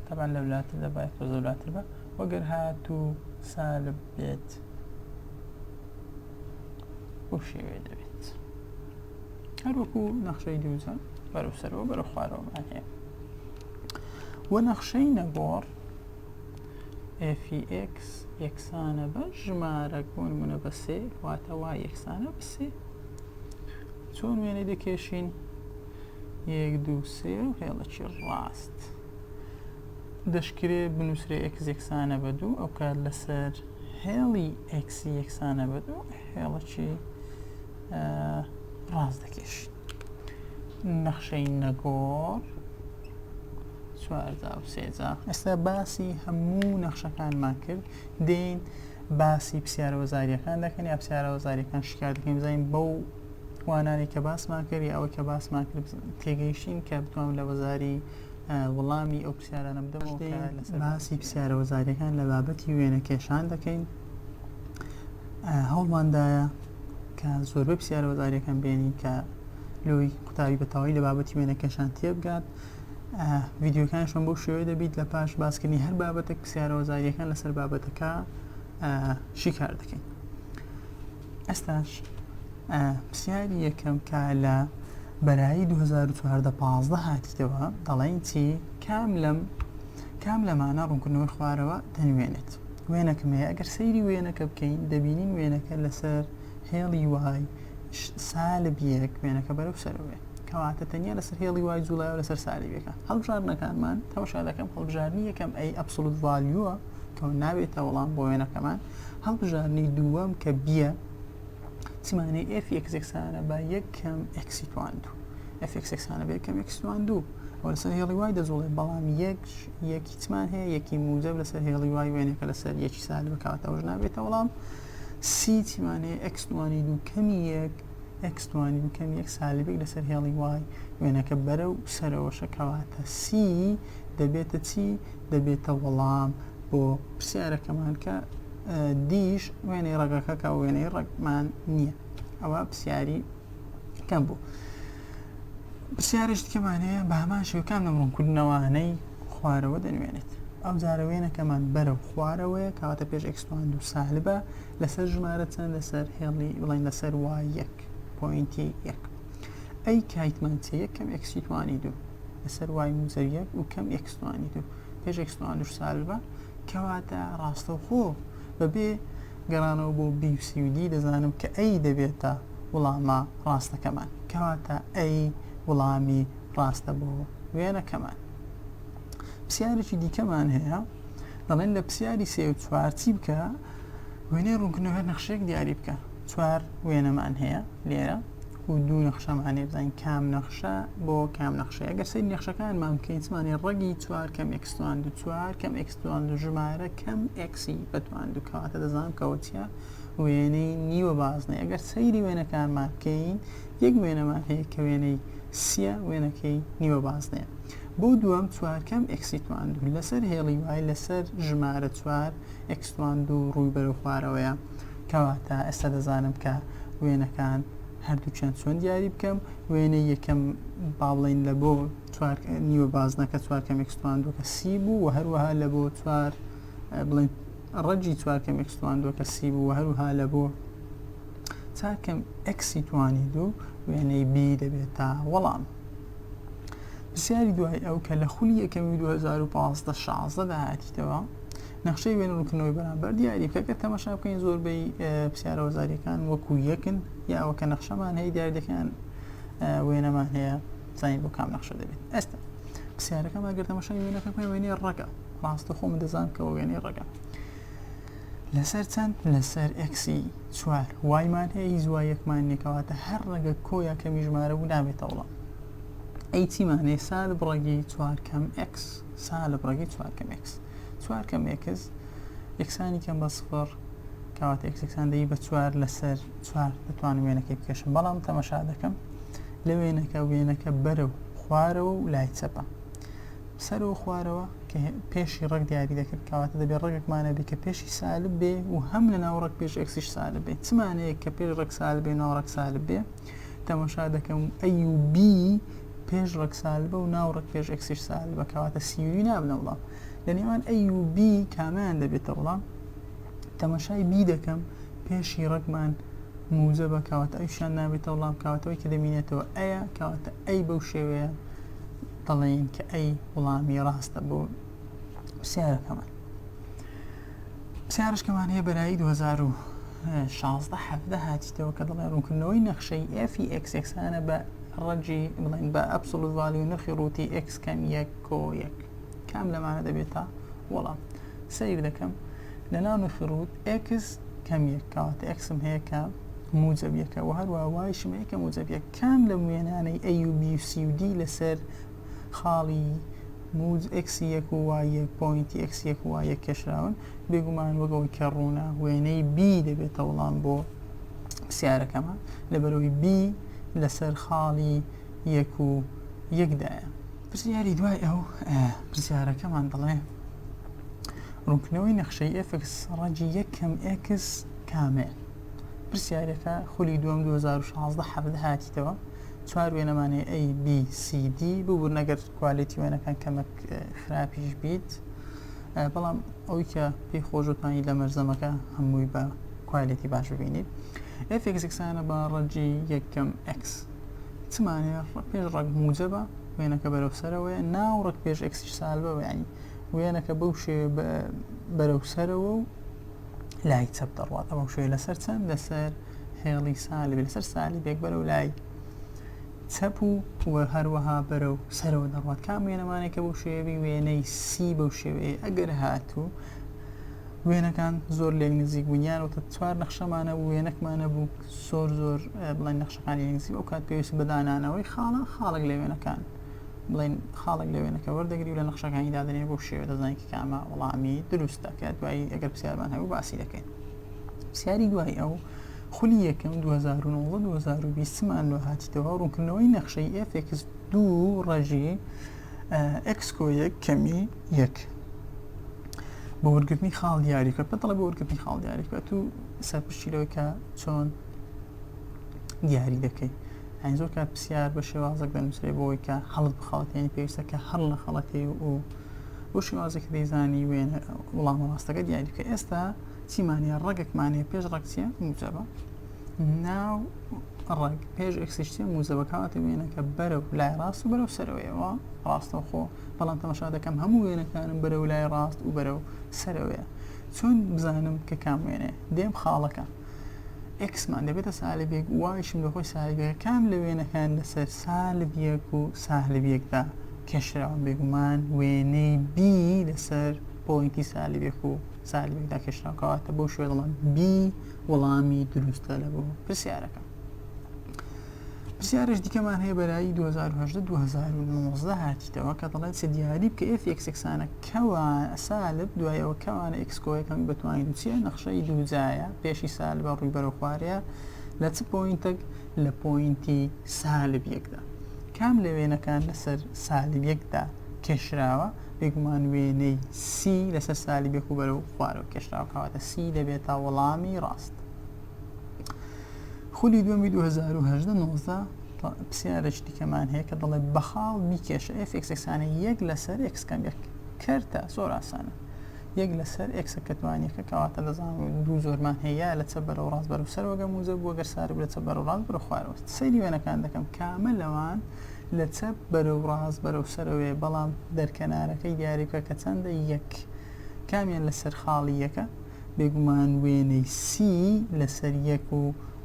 تەبان لە ولاتە دەبای خۆ زۆلاتر بە وەگەر هات و سالب بێت بۆ شێوێ دەبێت هەروەکو نەخشەی دووزە بەرەو سەرەوە بەرە خوارەوەمان هەیە وە نەخشەی نەگۆڕ fx یەکسانە بە ژمارەک بۆ نمونە بە سێ واتە وای یەکسانە بە سێ چۆن وێنەی دەکێشین یەک دوو سێ و هێڵەکی ڕاست دەشکرێ بنووسرێ ئێکس یەکسانە بە دوو ئەو کار لەسەر هێڵی ئێکسی یەکسانە بە دوو هێڵەکی ڕاست دەکێشین نەخشەی نەگۆڕ چوارجا و سێجا ئێستا باسی هەموو نەخشەکانمان کرد دێین باسی پرسیارە وەزاریەکان دەکەن یا پرسیارە وەزاریەکان شکار دەکەین بزانین بەو وانانی کە باسمان کرد یا ئەوەی کە باسمان کرد تێگەیشتین کە بتوانم لە وەزاری وڵامی ئەو پرسیارانە بدەمەوە باسی پرسیارە وەزاریەکان لە بابەتی وێنە کێشان دەکەین هەوڵماندایە کە زۆربەی پرسیارە وەزاریەکان بێنین کە لۆی قوتابی بەتەواوی لە بابەتی وێنەکەشان تێبگات ڤیددیوەکانشم بۆ شێوێ دەبیت لە پاش باسکردنی هەر بابەتێک پرسیارە وەزاریەکان لەسەر بابەتەکە شیکار دەکەین ئەستاش پرسیاری یەکەم کە لە بەرایی 2014 هاتیتەوە دەڵێن چی کام لەم کام لەمانە ڕوونکردنەوەی خوارەوە دەنوێنێت وێنەکم هەیە ئەگەر سەیری وێنەکە بکەین دەبینین وێنەکە لەسەر هێڵی وای سالب یەک وێنەکە بەرەو سەرەوەێ کەواتە تەنیا لەسەر هێڵی وای جوڵای لەسەر سالبەکە هەڵبژاردنەکانمان تەوشا دەکەم هەڵبژارنی یەکەم ئەی ئەبسلوت ڤالیوە کە نابێتە وەڵام بۆ وێنەکەمان هەڵبژارنی دووەم کە بیە چمانەی ئفیەکسێکسانە با یەکەم ئەکسیتواند ئەفێکسێکسانە بێکەم ئەکسوان دوو ئەوە لەسەر هێڵی وای دەجوڵێ بەڵام یەک یەک هیچمان هەیە یەکی موجەب لەسەر هێڵی وای وێنەکە لەسەر یەکی سال بکات ئەوش نابێتە وەڵام سی چیمان هەیە ئەکس دوانی دوو کەمی یەک ئەکس دوانی دوو کەمی یەک سالبێک لەسەر هێڵی وای وێنەکە بەرە و سەرەوەشە کەواتە سی دەبێتە چی دەبێتە وەڵام بۆ پرسیارەکەمان کە دیش وێنەی ڕەگەکە کە وێنەی ڕەگمان نییە ئەوە پرسیاری کەم بوو. پرسیارێک دیکەمان هەیە بە هەمان شێوە کام لەم ڕوونکردنەوانەی خوارەوە دەنوێنێت ئەو جارە وێنەکەمان بەرە و خوارەوەیە کەواتە پێش ئەکسپاند و سالبە لەسەر ژمارە چەند لەسەر هێڵی بڵین لەسەر وا یەک پوینتی یەک ئەی کایتمان چ یەک کەم ئەکسیتوانی دوو لەسەر وای موزەر یەک و کەم ئەکسوانی دوو پێش ئەکسپاند و سالبە کەواتە ڕاستەوخۆ بەبێ گەڕانەوە بۆ بی و سی و دی دەزانم کە ئەی دەبێتە وڵامە ڕاستەکەمان کەواتە ئەی وڵامی ڕاستە بۆ وێنەکەمان پرسیارێکی دیکەمان هەیە دەڵێن لە پرسیاری سێ و چوار چی بکە وێنەی ڕوونکردنەوە نەخشێک دیاری بکە چوار وێنەمان هەیە لێرە و دوو نەخشەمانێ بزانین کام نەخشە بۆ کام نەخشەیە گەر سەری نەخشەکانمان بکەین زمانی ڕەگی چوار کەم ئەکسوان دو چوار کەم ئەکسوان دو ژمارە کەم ئەکسی بەتوان دوکەواتە دەزانم کەەوە چیە وێنەی نیوە بازنەیە ئەگەر سەیری وێنەکانمان بکەین یەک وێنەمان هەیە کە وێنەی سیە وێنەکەی نیوە بازنەیە بۆ دووەم چوارکەم ئەکسیتوان دوو لەسەر هێڵی وای لەسەر ژمارە چوار ئەکسوان دوو ڕووی بەرە خوارەوەیە کەواتە ئێستا دەزانم کە وێنەکان هەردووچیان چۆن دیاری بکەم وێنە یەکەم با بڵین لە بۆ نیوە بازنەکە چوارکەم ئەکسوان دووکە سی بوو و هەروەها لە بۆ چوار بڵین ڕەگی چوار کەم ئێکس تواندوە کە سی بوو هەروها لە بۆ چار کەم ئەکسی توانی دوو وێنەی بی دەبێت تا وەڵام پرسیاری دوای ئەو کە لە خولی یەکەمی 2015 16 داهاتیتەوە نەخشەی وێن ڕوکنەوەی بەرامبەر دیاری کەگە تەمەشا بکەین زۆربەی پرسیارە وەزاریەکان وەکو یەکن یاوە کە نەخشەمان هەیە دیاردەکان وێنەمان هەیە زانین بۆ کام نەخشە دەبێت ئێستا پرسیارەکەمان گەر تەمەشای وێنەکە بکەین وێنەی ڕەگە ڕاستە خۆمە دەزان کەەوە وێنەی ڕگە لەسەر چەند لەسەر ئەکسی چوار وایمان هەیە هیچ وایەکمان نێکەواتە هەر ڕەگە کۆیە کەمی ژمارە و نابێتەوەڵام ئەی چیمانێ سال بڕەگی چوار کەم ئەکس سال بڕەگی چوار کەم ئەکس چوار کەم ئەکس یەکسانی کەم بە سفر کاواتە ئەکسەکسان دەی بە چوار لەسەر چوار دەتوانم وێنەکەی بکێشم بەڵام تەمەشا دەکەم لە وێنەکە وێنەکە بەرە و خوارەوە و لای چەپە سەرەوە خوارەوە کە پێشی ڕەگ دیاری دەکرد کەواتە دەبێت ڕەگێکمانە بی کە پێشی سالب بێ و هەم لە ناو ڕەگ پێش ئەکسیش سالب بێت چمانەیە کە پێش ڕەگ سال بێ ناو ڕەگ سالب بێ تەمەشا دەکەم ئەی و بی پێش ڕەگ سالبە و ناو ڕەگ پێش ئەکسیش سالبە کەواتە سیوری نابنە وڵام لە نێوان ئەی و بی کامیان دەبێتە وڵام تەمەشای بی دەکەم پێشی ڕەگمان موجە بە کاواتە ئەوشان نابێتە وڵام کاواتەوەی کە دەمینێتەوە ئەیە کاواتە ئەی بەو شێوەیە دەڵێین کە ئەی وڵامی ڕاستە بۆ پرسیارەکەمان پرسیارشکەمان هەیە بەرایی 2016 حەفدە هاتیتەوە کە دەڵێ ڕوونکردنەوەی نەخشەی ئەفی ئەکسێکسانە بە ڕەجی بڵێن بە ئەبسڵوت ڤالی و نرخی ڕووتی ئەکس کەم یەک کۆ یەک کام لەمانە دەبێتە وەڵام سیر دەکەم لە ناو نرخی ڕووت ئەکس کەم یەک کەواتە ئەکسم هەیە کە موجب یەکە و هەروە وایشم هەیە کە موجب یەک کام لەم وێنانەی ئەی و بی و سی و دی لەسەر خاڵی موج ئێکسی یەک و وای یەک پۆینتی ئێکسی یەک و وای یەک کێشراون؟ بێگومان وەک ئەوەی کە ڕوونە وێنەی بی دەبێتە وڵام بۆ پرسیارەکەمان، لەبەرئەوەی بی لەسەر خاڵی یەک و یەک دایە. پرسیاری دوای ئەو پرسیارەکەمان دەڵێ ڕوونکردنەوەی نەخشەی ئێفکس ڕەگی یەک کەم ئێکس کامەیە؟ پرسیارەکە، خولی دووەم دوو هەزار و شازدە حەڤدە هاتیتەوە چوار وێنەمان هەیە A B C D ببورن ئەگەر کوالێتی وێنەکان کەمەک خراپیش بیت بەڵام ئەوی کە پێی خۆشتانی لە مەرزەمەکە هەمووی بە کوالێتی باش ببینیت ئەفێکسانە بە ڕەجی یەکەم X چمانێ پێش ڕەگ موجەبە وێنەکە بەرەو سەرەوەی ناو ڕەگ پێش ئەکسیش سالبەوە ینی وێنەکە بەو شێ بەرەو سەرەوە و لای چەپ دەڕوات ئەمە شوێ لەسەر چەند لەسەر هێڵی سالی لەسەر سالی بێک بەرە و لای چەپ و وە هەروەها بەرە و سەرەوە دەڕات کام وێنەمانێکە بۆ شێوی وێنەی سی بەو شێوەیە ئەگەر هاتوو وێنەکان زۆر لێک نزیک بوونیان وتە چوار نەخشەمانە بوو وێنەکمانە بوو زۆر زۆر بڵێن نەخشەکانی نزیک ئەو کات پێویست بەدانانەوەی خاڵە خاڵک لە وێنەکان بڵێن خاڵێک لە وێنەکە وەردەگری و لە نەخشەکانی دادنێ بۆ شێوە دەزانین کە کامە وەڵامی دروستە کە دوایی ئەگەر پرسیارمان هەبوو باسی دەکەین پرسیاری دوای ئەو خولی یەکەم 2009-2020مان لۆ هاتیتەوە ڕوونکردنەوەی نەخشەی ئفX دوو ڕژی ئەکسکۆ یەک کەمی یەک بۆ وەرگرتنی خاڵ دیاری کە پێتەڵە بۆ وەرگرتنی خاڵ دیاری کە تو سەرپشتی لەوەی کە چۆن دیاری دەکەیت یانی زۆر کات پرسیار بە شێوازێک دەنووسێ بۆی کە هەڵت بخەڵت یعنی پێویستە کە هەڵ لە خەڵەتی و بۆ شێوازێکی دەیزانی وێن وڵام ڕاستەکە دیاری کە ئێستا چیمانە ڕەگەکمانێ پێش ڕەکسیە موجەبە ناو ڕەگ پێش ئەکسشتە موزەبەکاتە وێنەکە بەرە و لای ڕاست و بەرەو سەرەوەیەوە ڕاستەوخۆ بەڵام تەمەشا دەکەم هەموو وێنەکانم بەرە و لای ڕاست و بەرە و سەرەوەیە چۆن بزانم کە کام وێنێ دێم خاڵەکە ئێکسمان دەبێتە سالب یەک وایشم لە خۆی سالب یەک کام لە وێنەکان لەسەر سالب یەک و سالب یەکدا کێشراوە بێگومان وێنەی بی لەسەر پۆینتی سالب یەک و سالب یەکدا کێشراوە کەواتە بەو شوێ دەڵێن بی وەڵامی دروستە لە بۆ پرسیارەکە پرسیارش دیکەمان هەیە بەرایی 2019 هاتیتەوە کە دەڵێت چ دیاری بکە ئێف یەکسەکسانە کوا سالب دوای ئەوە کەوانە ئیکس کۆ یەکەم بەتوانین بچیە نەخشەی دووجایە پێشی سالبە ڕووی بەرەو خوارەیە لە چ پۆینتێک لە پۆینتی سالب یەکدا کام لە وێنەکان لەسەر سالب یەکدا کێشراوە بێگومان وێنەی سی لەسەر سالی بێکو بەرەو خوارەوە کێشراوە کەواتە سی دەبێتە وەڵامی ڕاست خولی دووەمی 2018 نۆزدە پرسیارێکی دیکەمان هەیە کە دەڵێ بەخاڵ بیکێشە ئفکسەکسانە یەک لەسەر ئکسکەم یەک کەرتە زۆر ئاسانە یەک لەسەر ئکسە کەتوانیەکە کەواتە دەزان دوو زۆرمان هەیە لە چە بەرەوە ڕاست بەرەو سەر وەگە موزە بووە گەر سارو لە چە بەرەو ڕاست بەرە خوارەوە سەیری وێنەکان دەکەم کامە لەوان لە چە بەرەو ڕاست بەرەو سەرەوەێ بەڵام دەرکەنارەکەی دیاریکە کە چەندە یەک کامیان لەسەر خاڵی یەکە بێگومان وێنەی سی لەسەر یەک و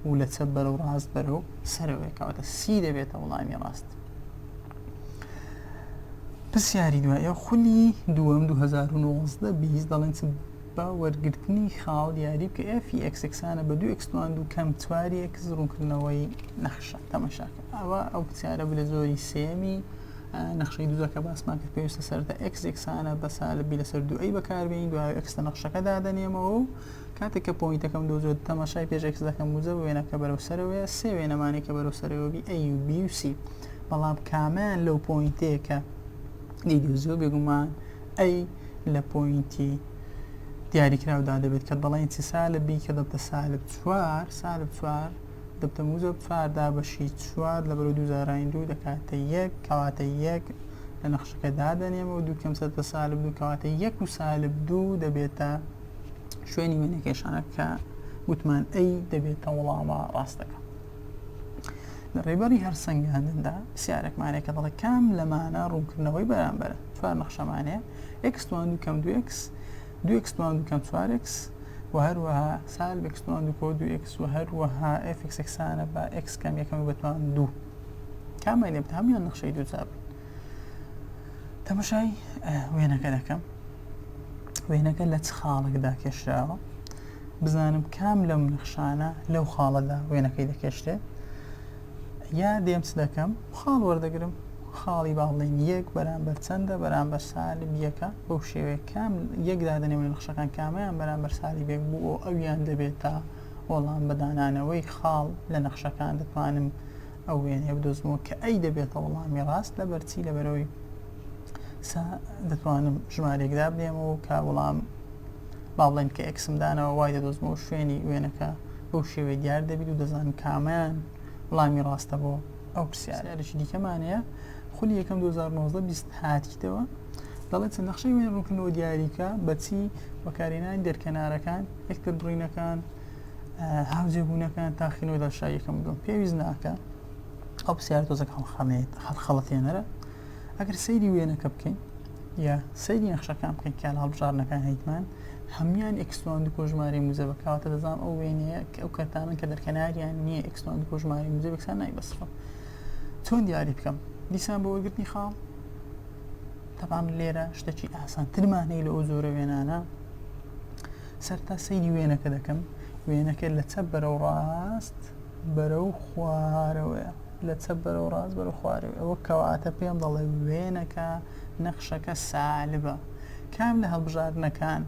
و لە چەپ بەرەو ڕاست بەرەو سەرەوەیە کەواتە سی دەبێتە وڵامی ڕاست. پرسیاری دوایە خولی دووەم 2019 بیست دەڵێن چ بە وەرگرتنی خاڵ دیاری بکە ئێفی ئەکسکسانە بە دوو ئەکسوان دوو کەم چواری ئەکس ڕوونکردنەوەی نەخشە تەمەشاکە ئەوە ئەو پرسیارە بلە زۆری سێمی نەخشەی دوو کە باسمان کرد پێویستە سەرەتا ئێکس یەکسانە بە سالبی لەسەر دووەی بەکاربیین دوای ئێکس لە نەخشەکە دادەنێمەوە و کاتێک کە پۆینتەکەم دۆزێت تەماشای پێش ئێکس دەکەم وزە وێنەکە بەرەو سەرەوەیە سێ وێنەمانی کە بەرەو سەرەوە بی ئەی و بی و سی بەڵام کامیان لەو پۆینتەیە کە دیدوزیۆ بێگومان ئەی لە پۆینتی دیاریکراودا دەبێت کە دەڵێن چی سالب بی کە دەبتە سالب چوار سالب چوار دە تەمووزە بفار دابەشی چوار لە بەرەو دوو زارانی دوو دەکاتە یەک کەواتە یەک لە نەخشەکە دادەنێمە و دوو کەم سەرتە سالب دوو کەواتە یەک و سالب دوو دەبێتە شوێنی وێنەکێشانە کە گوتمان ئەی دەبێتە وڵامە ڕاستەکە لە ڕێبەری هەر سنگاندندا سیارەکمانێکە دەڵێ کام لەمانە ڕوونکردنەوەی بەرامبەر چوار نەخشەمانەیە ئەکسوان دوو کەم دو ئەکس دوو ئێکس پلان دوو کەم چوار ئێکس و هەروەها سال بێکس پلان دوو کۆ دوو ئێکس و هەروەها ئێفکس ئێکسانە بە ئێکس کەم یەکەم بە پلان دوو کامیان لێبت هەمویان نەخشەی دوو چاپ تەمەشای وێنەکە دەکەم وێنەکە لە چ خاڵێکدا کێشراوە بزانم کام لەم نەخشانە لەو خاڵەدا وێنەکەی دەکێشتێت یا دێم چ دەکەم خاڵ وەردەگرم خاڵی با بڵێن یەک بەرامبەر چەندە بەرامبەر سالب یەکە بەو شێوەیە کام یەک دادەنێ و نەخشەکان کامیان بەرامبەر سالی بێک بوو و ئەویان دەبێت تا وەڵام بەدانانەوەی خاڵ لە نەخشەکان دەتوانم ئەو وێنەیە بدۆزمەوە کە ئەی دەبێتە وەڵامی ڕاست لەبەرچی لەبەرەوەی سا دەتوانم ژمارێک دابنێم و کە وڵام با بڵێن کە ئەکسم دانەوە وای دەدۆزمەوە شوێنی وێنەکە بەو شێوەی دیار دەبیت و دەزان کامیان وڵامی ڕاستە بۆ ئەو پرسیارێکی دیکەمانەیە خولی یەکەم 2019 هاتیتەوە دەڵێت چەند نەخشەی وێن ڕوونکردنەوە دیاریکە بەچی بەکارێنانی دەرکەنارەکان یەکتر بڕینەکان هاوجێبوونەکان تاخینەوە دەشایەکەم دوم پێویست ناکە ئەو پرسیار تۆزەکە هەڵخەڵێت هەڵخەڵەتێنەرە ئەگەر سەیری وێنەکە بکەین یا سەیری نەخشەکان بکەین کە لە هەڵبژاردنەکان هەیتمان هەمان ئەکسلۆن دو کۆژماری موزەبەکەواتە دەزان ئەو وێنەیە ئەو کەتانن کە دەرکەناریان نییە ئەکسلۆن دو کۆژماری موزەبێکسان نای بەسڕە چۆن دیاری بکەم دیسان بۆ وەرگرتنی خاڵ تەبان لێرە شتەکی ئاسانترمان هەیە لە ئەو زۆرە وێنانە سەرتا سەیری وێنەکە دەکەم وێنەکە لە چەپ بەرەو ڕاست بەرەو خوارەوەە لە چەپ بەرەو ڕاست بەرەو خوارەوەی ئەوە کەواتە پێم دەڵێ وێنەکە نەخشەکە سالبە کام لە هەڵبژاردنەکان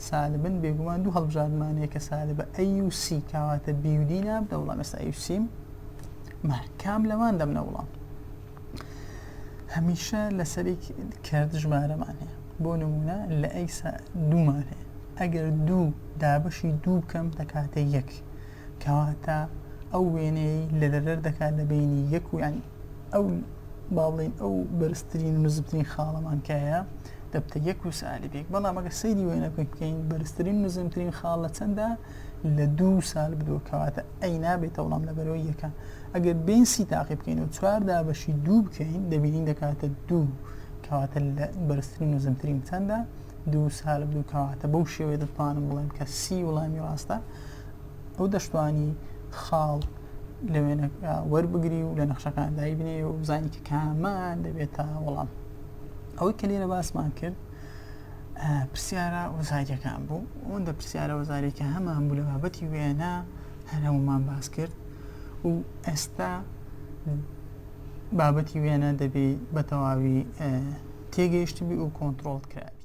سالبن بێگومان دوو هەڵبژاردمان یەکە سالبە ئەی و سی کاواتە بیودی نابدە وڵام ئێستا ئەی سیم کام لەوان دەمنە وڵام هەمیشە لەسەری کرد ژمارەمان هەیە بۆ نمونە لە ئەیسا دوومان هەیە ئەگەر دوو دابەشی دوو بکەم دەکاتە یەک کەواتە ئەو وێنەیەی لە دەردەر دەکات لە بەینی یەک و یانی ئەو با بڵێین ئەو بەرزترین و نزمترین خاڵەمان کایە دەبتە یەک و سالی بێک بەڵام ئەگە سەیری وێنە بکەین بکەین بەرزترین نزمترین خاڵ لە چەندە لە دوو سال بدووە کەواتە ئەی نابێتە وڵام لەبەرەوەی یەکە ئەگەر بین سی تاقی بکەین و چواردا بەشی دوو بکەین دەبینین دەکاتە دوو کەواتە لە بەرزترین و زمترین چەندە دوو سالب دوو کەواتە بەو شێوێ دەتوانم بڵێم کە سی وڵامی ڕاستە ئەو دەشتوانی خاڵ لە وێنەکە وەربگری و لە نەخشەکان دایبنێ و بزانانی کە کامان دەبێتە وەڵام ئەوەی کە لێرە باسمان کرد پرسیارە وەزاریەکان بوو ئەوەندە پرسیارە وەزارێکە هەمان بوو لە بابەتی وێنە هەرەومان باس کرد و ئێستا بابەتی وێنە دەبێ بە تەواوی تێگەیشتی بی و کۆنتترۆڵ کرابی